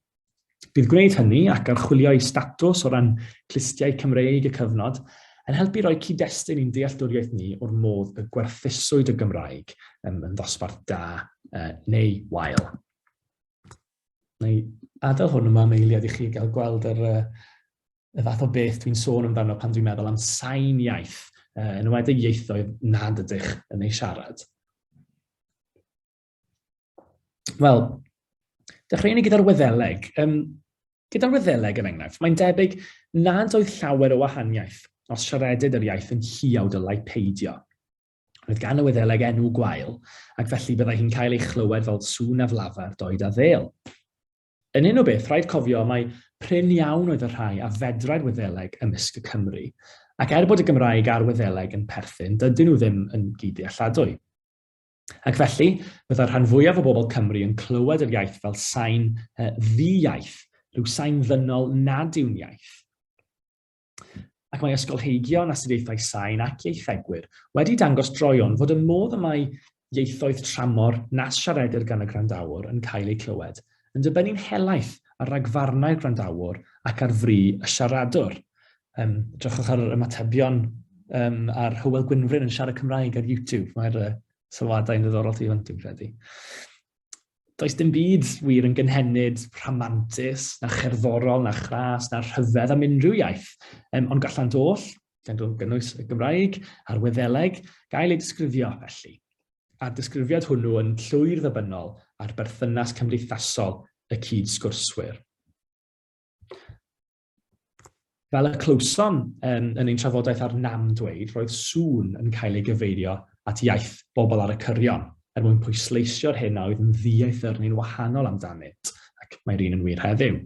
Bydd gwneud hynny ac archwilio ei statws o ran clustiau Cymreig y cyfnod yn helpu roi cyd-destun i'n dealltwriaeth ni o'r modd y gwerthuswyd y Gymraeg yn ddosbarth da neu wael. Neu adael hwn yma am eiliad i chi gael gweld yr y fath o beth dwi'n sôn amdano pan dwi'n meddwl am sain iaith, uh, yn wedi ieithoedd nad ydych yn ei siarad. Wel, dechreuwn ni gyda'r wyddeleg. Um, gyda'r wyddeleg yn er enghraifft, mae'n debyg nad oedd llawer o wahaniaeth os siaredyd yr iaith yn lliaw dylai peidio. Roedd gan y wyddeleg enw gwael, ac felly byddai hi'n cael ei chlywed fel sŵn a flafar doed a ddel. Yn un o beth, rhaid cofio mai prin iawn oedd y rhai a fedrai'r Wyddeleg ymysg y Cymry, ac er bod y Gymraeg a'r Wyddeleg yn perthyn, dydyn nhw ddim yn gyd-dealladwy. Ac felly, byddai'r rhan fwyaf o bobl Cymru yn clywed yr iaith fel sain uh, ddi-iaith, rhyw sain ddynol nad yw'n iaith. Ac mae ysgolheigion astudiaethau sain ac ieithegwyr wedi dangos droion fod y modd y mae ieithoedd tramor nas siaredir gan y gwrandawr yn cael eu clywed yn dibynnu'n helaeth ar ragfarnau'r gwrandawr ac ar fri y siaradwr. Um, drychwch ar yr ymatebion um, ar Hywel Gwynfryn yn siarad Cymraeg ar YouTube. Mae'r uh, sylwadau yn ddiddorol tu hwnt, dwi'n credu. Does dim byd wir yn gynhenid rhamantus, na cherddorol, na chras, na rhyfedd am unrhyw iaith, um, ond gallant oll, gan gynnwys y Gymraeg a'r Wyddeleg, gael ei disgrifio felly. A'r disgrifiad hwnnw yn llwyr ddybynnol ar berthynas cymdeithasol y cyd sgwrswyr. Fel y clywsom um, yn ein trafodaeth ar nam dweud, roedd sŵn yn cael ei gyfeirio at iaith bobl ar y cyrion, er mwyn pwysleisio'r hyn a oedd yn ddieithr neu'n wahanol amdanynt, ac mae'r un yn wir heddiw.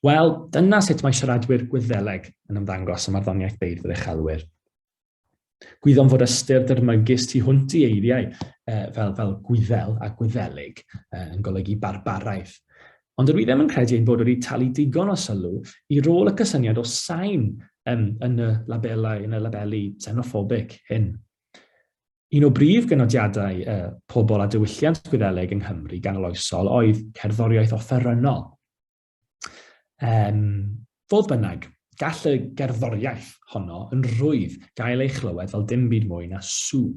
Wel, dyna sut mae siaradwyr Gwyddeleg yn ymddangos ym marddoniaeth beirdd yr uchelwyr. Gwyddom fod ystyr dyrmygus tu hwnt i eiriau e, fel, fel gwyddel a gwyddelig e, yn golygu barbaraeth. Ond yr wyddem yn credu ein bod wedi talu digon o sylw i rôl y cysyniad o sain um, yn y labelau, yn y labelu xenophobic hyn. Un o brif gynodiadau y pobl a diwylliant Gwyddeleg yng Nghymru ganoloesol oedd cerddoriaeth offerynnol. Um, fodd bynnag, gall y gerddoriaeth honno yn rhwydd gael ei chlywed fel dim byd mwy na sŵ.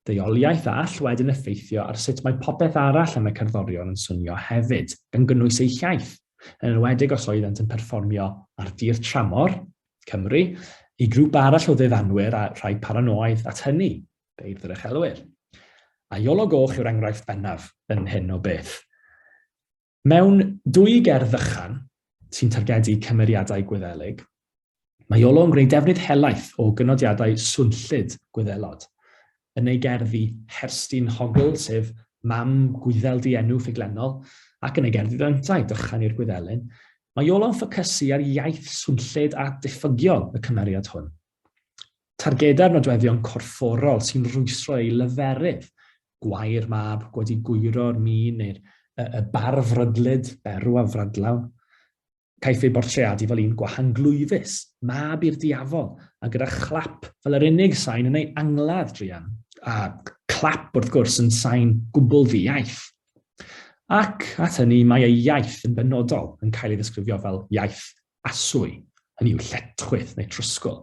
Deuoliaeth a all wedyn effeithio ar sut mae popeth arall yn y cerddorion yn swnio hefyd, gan gynnwys eu hiaith, yn enwedig os oeddent yn perfformio ar dir tramor, Cymru, i grŵp arall o ddefanwyr a rhai paranoaidd at hynny, beirdd yr uchelwyr. A Iolo Goch yw'r enghraifft bennaf yn hyn o beth. Mewn dwy gerdd fychan sy'n targedu cymeriadau Gwyddelig, mae Iolo yn gwneud defnydd helaeth o gynodiadau swnllyd Gwyddelod. Yn ei gerddi Herstyn Hogl, sef mam Gwyddel dienw ffuglenol, ac yn ei gerddi Ddyntau, Dychan i'r Gwyddelyn, mae Iolo'n ffocysu ar iaith swnllyd a diffygiol y cymeriad hwn. Targedau'r nodweddion corfforol sy'n rwystro ei leferydd, gwair mab wedi gwyro'r mîn neu'r y, y bar frydlyd, berw a frydlawn. Caiff ei bortreadu fel un gwahanglwyfus, mab i'r diafol, a gyda chlap fel yr unig sain yn ei angladd druan, a clap wrth gwrs yn sain gwbl ddi-iaith. Ac at hynny mae ei iaith yn benodol yn cael ei ddisgrifio fel iaith aswy, hynny yw lletchwith neu trwsgl.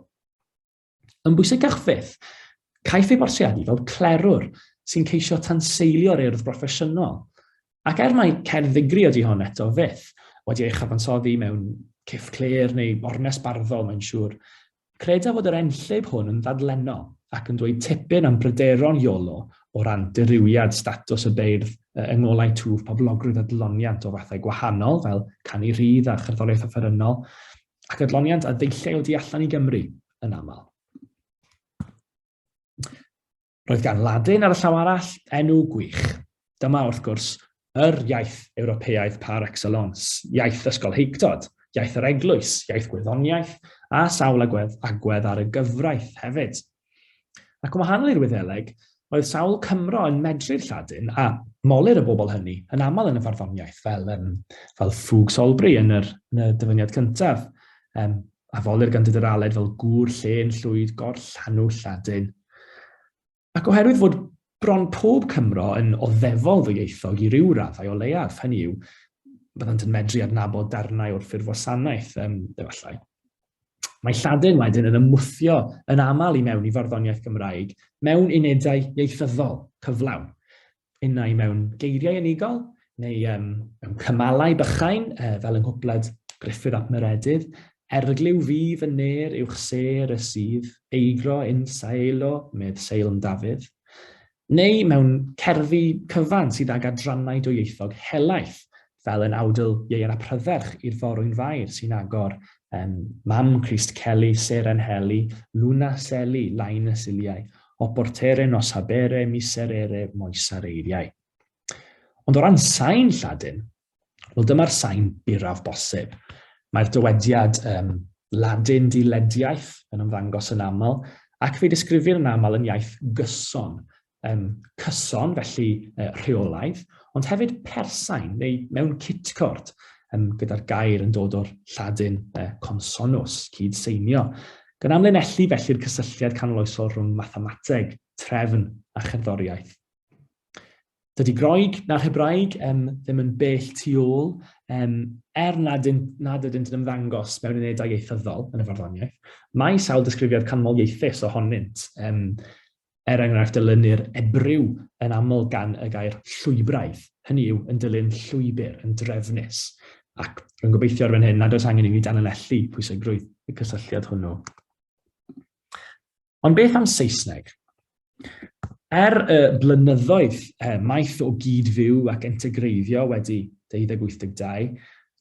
Yn bwysicach fyth, caiff ei bortreadu fel clerwr sy'n ceisio tanseilio'r urdd broffesiynol, ac er mai cerdd ddigri ydy hon eto fyth, wedi ei chyfansoddi mewn ciff clir neu ornes barddol mae'n siŵr, Credaf fod yr enllib hwn yn ddadlennol ac yn dweud tipyn am bryderon Iolo o ran dirywiad statws y beirdd yng ngolau twf poblogrwydd adloniant o fathau gwahanol fel canu rhydd a cherddoriaeth offerynnol ac adloniant a ddeillei o du allan i Gymru yn aml. Roedd gan Ladin ar y llaw arall enw gwych. Dyma, wrth gwrs, yr iaith Ewropeaidd par excellence, iaith ysgolheictod, iaith yr eglwys, iaith gwyddoniaeth, a sawl agwedd, agwedd ar y gyfraith hefyd. Ac yn wahanol i'r Wyddeleg, oedd sawl Cymro yn medru'r Lladin a molir y bobl hynny yn aml yn y farddoniaeth, fel, um, fel ffug Solbri yn, yr, yn y dyfyniad cyntaf. Um, A folir gan Dudur Aled fel gŵr llên llwyd gorllanw Lladin. Ac oherwydd fod bron pob Cymro yn oddefol ddwyieithog i ryw raddau o leiaf, hynny yw, byddant yn medru adnabod darnau o'r ffurfwasanaeth, um, efallai. Mae Lladin wedyn yn ymwthio yn aml i mewn i farddoniaeth Gymraeg mewn unedau ieithyddol cyflawn. innau mewn geiriau unigol, neu um, mewn cymalau bychain, uh, fel yng Nghwpled Griffith ap Meredydd, Erglyw fi fy ner uwch ser y sydd, eigro yn saelo, medd Seilm Dafydd. Neu mewn cerddi cyfan sydd ag adrannau dwyieithog helaeth, fel yn awdl ieuer a prydferch i'r forwyn fair sy'n agor, um, Mam Crist Celi, Seren Heli, Luna Seli, Lain y Siliau, Oportere, Nos Habere, Miserere, Moesar Eiriau. Ond o ran sain Lladin, wel dyma'r sain buraf bosib. Mae'r dywediad um, Ladin dilediaeth yn ymddangos yn aml, ac fe disgrifir yn aml yn iaith gyson, um, cyson, felly uh, rheolaidd, ond hefyd persain neu mewn cytcord, um, gyda'r gair yn dod o'r lladin uh, consonus, cyd seinio, gan amlinellu felly'r cysylltiad canoloesol rhwng mathemateg, trefn a cherddoriaeth. Dydy Groeg na Hebraeg um, ddim yn bell tu ôl, um, er nad, yn, nad ydynt yn ymddangos mewn unedau ieithyddol yn y farddoniaeth, mae sawl disgrifiad canmol ieithus ohonynt, um, Er enghraifft, dylunir ebryw yn aml gan y gair llwybraidd, hynny yw, yn dilyn llwybr, yn drefnus, ac rwy'n gobeithio ar fan hyn nad oes angen i ni danlinellu pwysigrwydd y cysylltiad hwnnw. Ond beth am Saesneg? Er y blynyddoedd eh, maith o gyd-fyw ac integreiddio wedi 1282,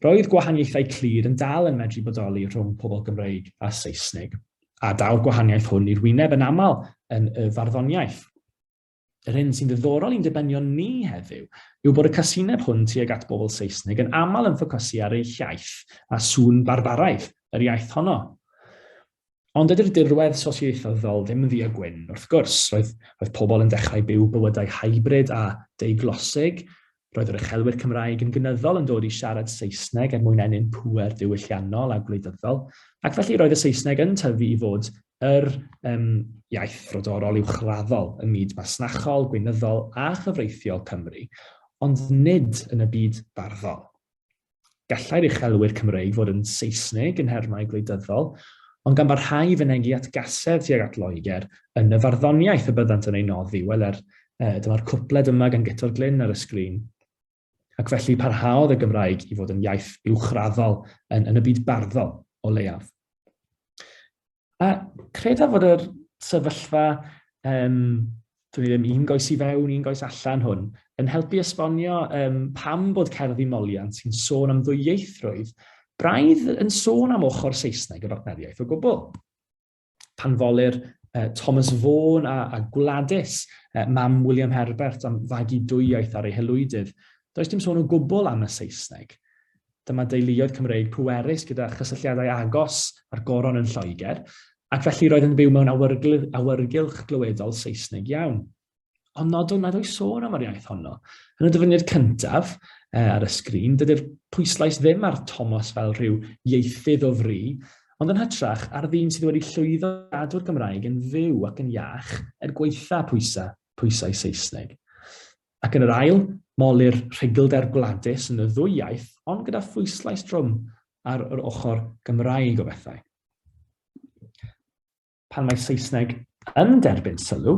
roedd gwahaniaethau clir yn dal yn medru bodoli rhwng pobl Gymreig a Saesnig. A daw'r gwahaniaeth hwn i'r wyneb yn aml yn y farddoniaeth. Yr hyn sy'n ddiddorol i'n dibenion ni heddiw yw bod y casineb hwn tuag at bobl Saesnig yn aml yn ffocysu ar eu hiaith a sŵn barbaraidd yr iaith honno. Ond ydy'r dirwedd sosioieithyddol ddim yn ddu a gwyn, wrth gwrs. Roedd, roedd pobl yn dechrau byw bywydau hybrid a deuglosig, Roedd yr uchelwyr Cymraeg yn gynyddol yn dod i siarad Saesneg er mwyn ennyn pŵer diwylliannol a gwleidyddol, ac felly roedd y Saesneg yn tyfu i fod yr um, iaith frodorol uwchraddol ym myd masnachol, gweinyddol a chyfreithiol Cymru, ond nid yn y byd barddol. Gallai'r uchelwyr Cymreig fod yn Seisnig yn nhermau gwleidyddol, ond gan barhau i fynegi at gasedd tuag at Loegr yn y farddoniaeth y byddant yn ei noddi, wel er, e, dyma'r cwpled yma gan Guto'r Glyn ar y sgrin. Ac felly parhaodd y Gymraeg i fod yn iaith uwchraddol yn, yn y byd barddol, o leiaf. A credaf fod yr sefyllfa, um, dwi'n ddim un goes i fewn, un goes allan hwn, yn helpu esbonio um, pam bod cerdd i moliant sy'n sôn am ddwyieithrwydd braidd yn sôn am ochr Saesneg y bartneriaeth o gwbl. Pan folir uh, Thomas Vaughan a, a Gwladys, uh, mam William Herbert, am fagu dwyieith ar ei helwydydd, does dim sôn o gwbl am y Saesneg. Dyma deuluoedd Cymreig pwerus gyda chysylltiadau agos â'r Goron yn Lloegr, ac felly roedd yn byw mewn awyrgylch glyweddol Saesneg iawn. Ond nodwn nad oes sôn am yr iaith honno. Yn y dyfyniad cyntaf, e, ar y sgrin, dydy'r pwyslais ddim ar Thomas fel rhyw ieithydd o fri, ond yn hytrach ar ddyn sydd wedi llwyddo i gadw'r Gymraeg yn fyw ac yn iach er gwaetha pwysa, pwysau Saesneg. Ac yn yr ail, molir rhugylder gwladus yn y ddwy iaith ond gyda phwyslais drwm ar yr ochr Gymraeg o bethau. Pan mae Saesneg yn derbyn sylw,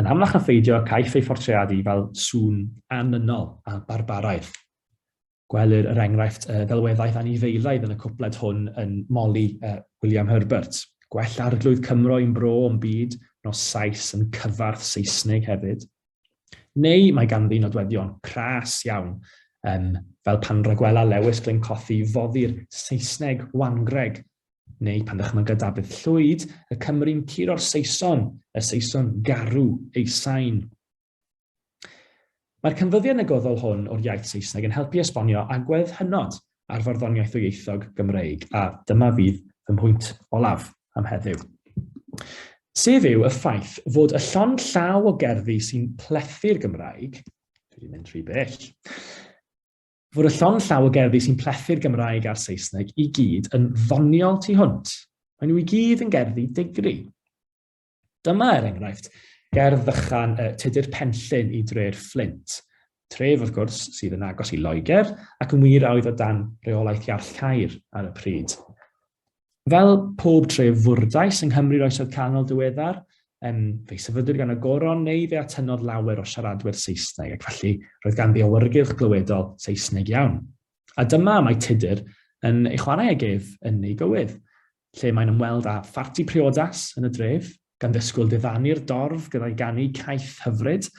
yn amlach na pheidio caiff ei phortreadu fel sŵn annynol a barbaraidd. Gwelir, er enghraifft, ddelweddau anifeilaidd yn y cwpled hwn yn Molly a William Herbert. Gwell arglwydd Cymro i'm bro o'm byd, nos Sais yn cyfarth Seisnig hefyd. Neu mae ganddi nodweddion pras iawn, um, fel pan ragwela Lewis Glyn Cothi foddi'r Saesneg wangreg, neu pan dychmyga Dafydd Llwyd y Cymry'n curo'r Saeson, y Saeson garw ei sain. Mae'r canfyddiad negyddol hwn o'r iaith Saesneg yn helpu esbonio agwedd hynod ar farddoniaeth ddwyieithog Gymreig, a dyma fydd fy mhwynt olaf am heddiw. Sef yw y ffaith fod y llond llaw o gerddi sy'n plethu'r Gymraeg, dwi wedi mynd rhy bell, fod y llond llaw o gerddi sy'n plethu'r Gymraeg a'r Saesneg i gyd yn ddoniol tu hwnt. Maen nhw i gyd yn gerddi digri. Dyma, er enghraifft, ger ddychan y Tudur Penllyn i dre'r Fflint. Tref, wrth gwrs, sydd yn agos i Loegr ac yn wir a oedd o dan reolaeth Iarll Caer ar y pryd. Fel pob tref fwrdais yng Nghymru'r Oesoedd Canol diweddar, um, fe'i sefydlwyd gan y goron neu fe atynodd lawer o siaradwyr Saesneg ac felly roedd gan ddiawyrgylch glywedol Saesneg iawn. A dyma mae Tudur yn ei chwarae ag ef yn ei gywydd. lle mae'n ymweld â pharti priodas yn y dref, gan ddisgwyl diddanu'r dorf gyda'i ganu caeth hyfryd,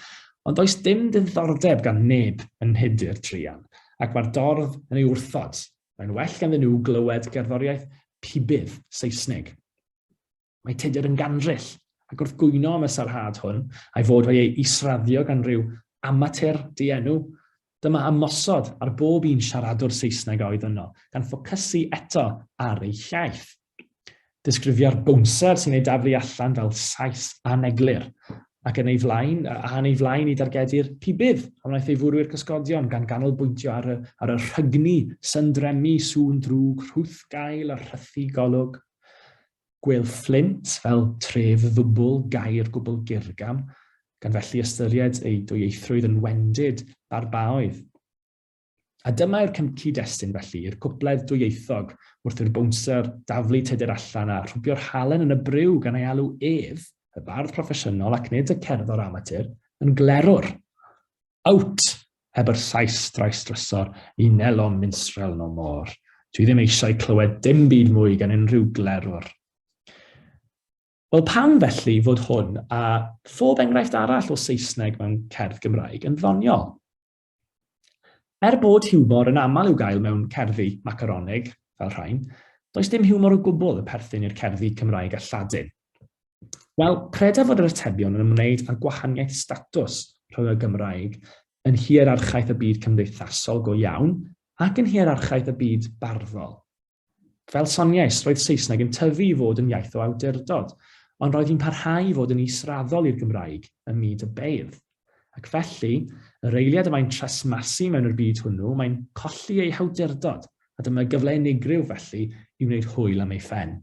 ond does dim diddordeb gan neb yn nhudur druan, ac mae'r dorf yn ei wrthod, mae'n well ganddyn nhw glywed gerddoriaeth pibydd Saesnig. Mae tudur yn gandryll, ac wrth gwyno am y sarhad hwn, a'i fod wedi ei israddio gan ryw amatur dienw, Dyma ymosod ar bob un siaradwr Saesneg a oedd yno, gan ffocysu eto ar eu hiaith. Disgrifio'r bownsar sy'n ei daflu allan fel Sais aneglur, ac yn ei flaen, a yn ei flaen i dargedu'r pibydd a wnaeth ei fwrw i'r cysgodion gan ganolbwyntio ar y, ar y rhygni, syndremi, sŵn drwg, rhwth gael a rhythu golwg. Gwell Fflint fel tref ddwbl gair gwbl gyrgam, gan felly ystyried ei dwyieithrwydd yn wendid barbaoedd. A dyma yw'r cyd-destun, felly, i'r cwpled dwyieithog wrth i'r bownsar daflu Tudur allan a rhwbio'r halen yn y briw gan ei alw ef, y bardd proffesiynol ac nid y cerddor amatur, yn glerwr. Out! Heb yr Sais drais drysor, ni nelom minstrel no more. Dwi ddim eisiau clywed dim byd mwy gan unrhyw glerwr. Wel, pam felly fod hwn a phob enghraifft arall o Saesneg mewn cerdd Gymraeg yn ddoniol? Er bod hiwmor yn aml i'w gael mewn cerddi macaronig, fel rhain, does dim hiwmor o gwbl y perthyn i'r cerddi Cymraeg a Lladin. Wel, credaf fod yr atebion yn ymwneud â'r gwahaniaeth statws rhwng y Gymraeg yn hierarchaeth y byd cymdeithasol go iawn ac yn hierarchaeth y byd barddol. Fel soniais, roedd Saesneg yn tyfu i fod yn iaith o awdurdod, ond roedd hi'n parhau i fod yn israddol i'r Gymraeg ym myd y beirdd. Ac felly, yr eiliad y mae'n tresmasu mewn i'r byd hwnnw, mae'n colli ei hawdurdod, a dyma gyfle unigryw felly i wneud hwyl am ei phen.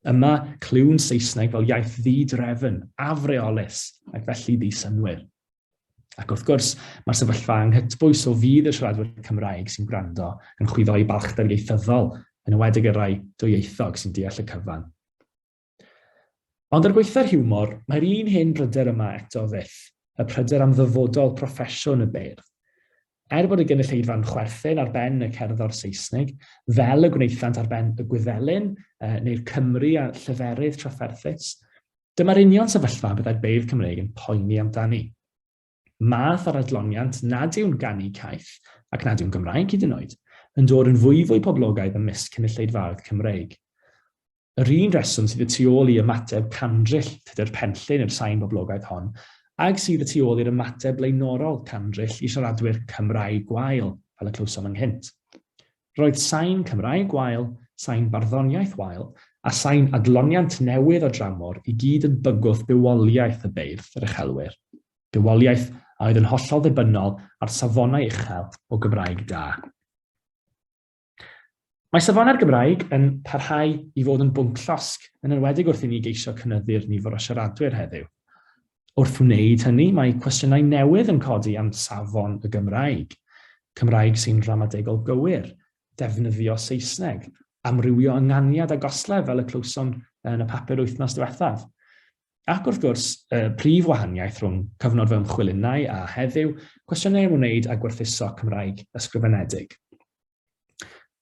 Yma, clywn Saesneg fel iaith ddi-drefn, afreolus, ac felly ddi-synwyr. Ac wrth gwrs, mae'r sefyllfa anghytbwys o fydd y siaradwyr Cymraeg sy'n gwrando yn chwyddo i balchder ieithyddol, yn ywedig y rai dwyieithog sy'n deall y cyfan. Ond ar gweitha'r hiwmor, mae'r un hen bryder yma eto fyth, y pryder am ddyfodol proffesiwn y beirdd. Er bod y gynulleidfa'n chwerthin ar ben y cerddor Seisnig, fel y gwnaethant ar ben y Gwyddelyn, uh, neu'r Cymry a llyferydd trafferthus, dyma'r union sefyllfa y byddai'r beirdd Cymreig yn poeni amdani. Math o'r adloniant nad yw'n ganu caeth, ac nad yw'n Gymraeg hyd yn oed, yn dod yn fwyfwy poblogaidd ymysg cynulleidfaoedd Cymreig. Yr un reswm sydd y tu ôl i ymateb candryll Tudur Penllyn i'r sain boblogaidd hon, ag sydd y tu ôl i'r ymateb blaenorol candryll i siaradwyr Cymraeg gwael, fel y clywsom ynghynt. Roedd sain Cymraeg gwael, sain barddoniaeth wael, a sain adloniant newydd o dramor i gyd yn bygwth bywoliaeth y beirdd, yr uchelwyr. Bywoliaeth a oedd yn hollol ddibynnol ar safonau uchel o Gymraeg da. Mae safonau'r Gymraeg yn parhau i fod yn bwnc llosg, yn enwedig wrth i ni geisio cynyddu'r nifer o siaradwyr heddiw. Wrth wneud hynny, mae cwestiynau newydd yn codi am safon y Gymraeg, Cymraeg sy'n ramadegol gywir, defnyddio Saesneg, amrywio ynganiad a goslef fel y clywsom yn y papur wythnos diwethaf. Ac wrth gwrs, y prif wahaniaeth rhwng cyfnod fy ymchwil innau a heddiw, cwestiynau am wneud â gwerthuso Cymraeg ysgrifenedig.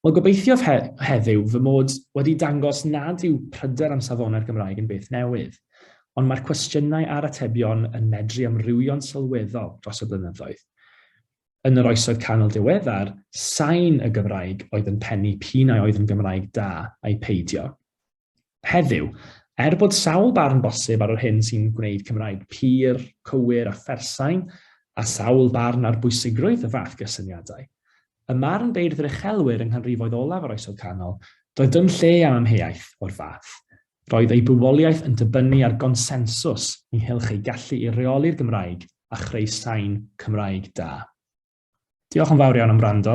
Wel, gobeithiof he heddiw fy mod wedi dangos nad yw pryder am safonau'r Gymraeg yn beth newydd, ond mae'r cwestiynau a'r atebion yn medru amrywio'n sylweddol dros y blynyddoedd. Yn yr oesoedd canol diweddar, sain y Gymraeg oedd yn pennu p'un a oedd yn Gymraeg da ai peidio. Heddiw, er bod sawl barn bosib ar yr hyn sy'n gwneud Cymraeg pur, cywir a phersain, a sawl barn ar bwysigrwydd y fath gysyniadau, ym marn beirdd yr uchelwyr yng nghanrifoedd olaf yr Oesoedd Canol, doedd dim lle am amheuaeth o'r fath. Roedd eu bywoliaeth yn dibynnu ar gonsensws ynghylch eu gallu i reoli'r Gymraeg a chreu sain Cymraeg da. Diolch yn fawr iawn am wrando.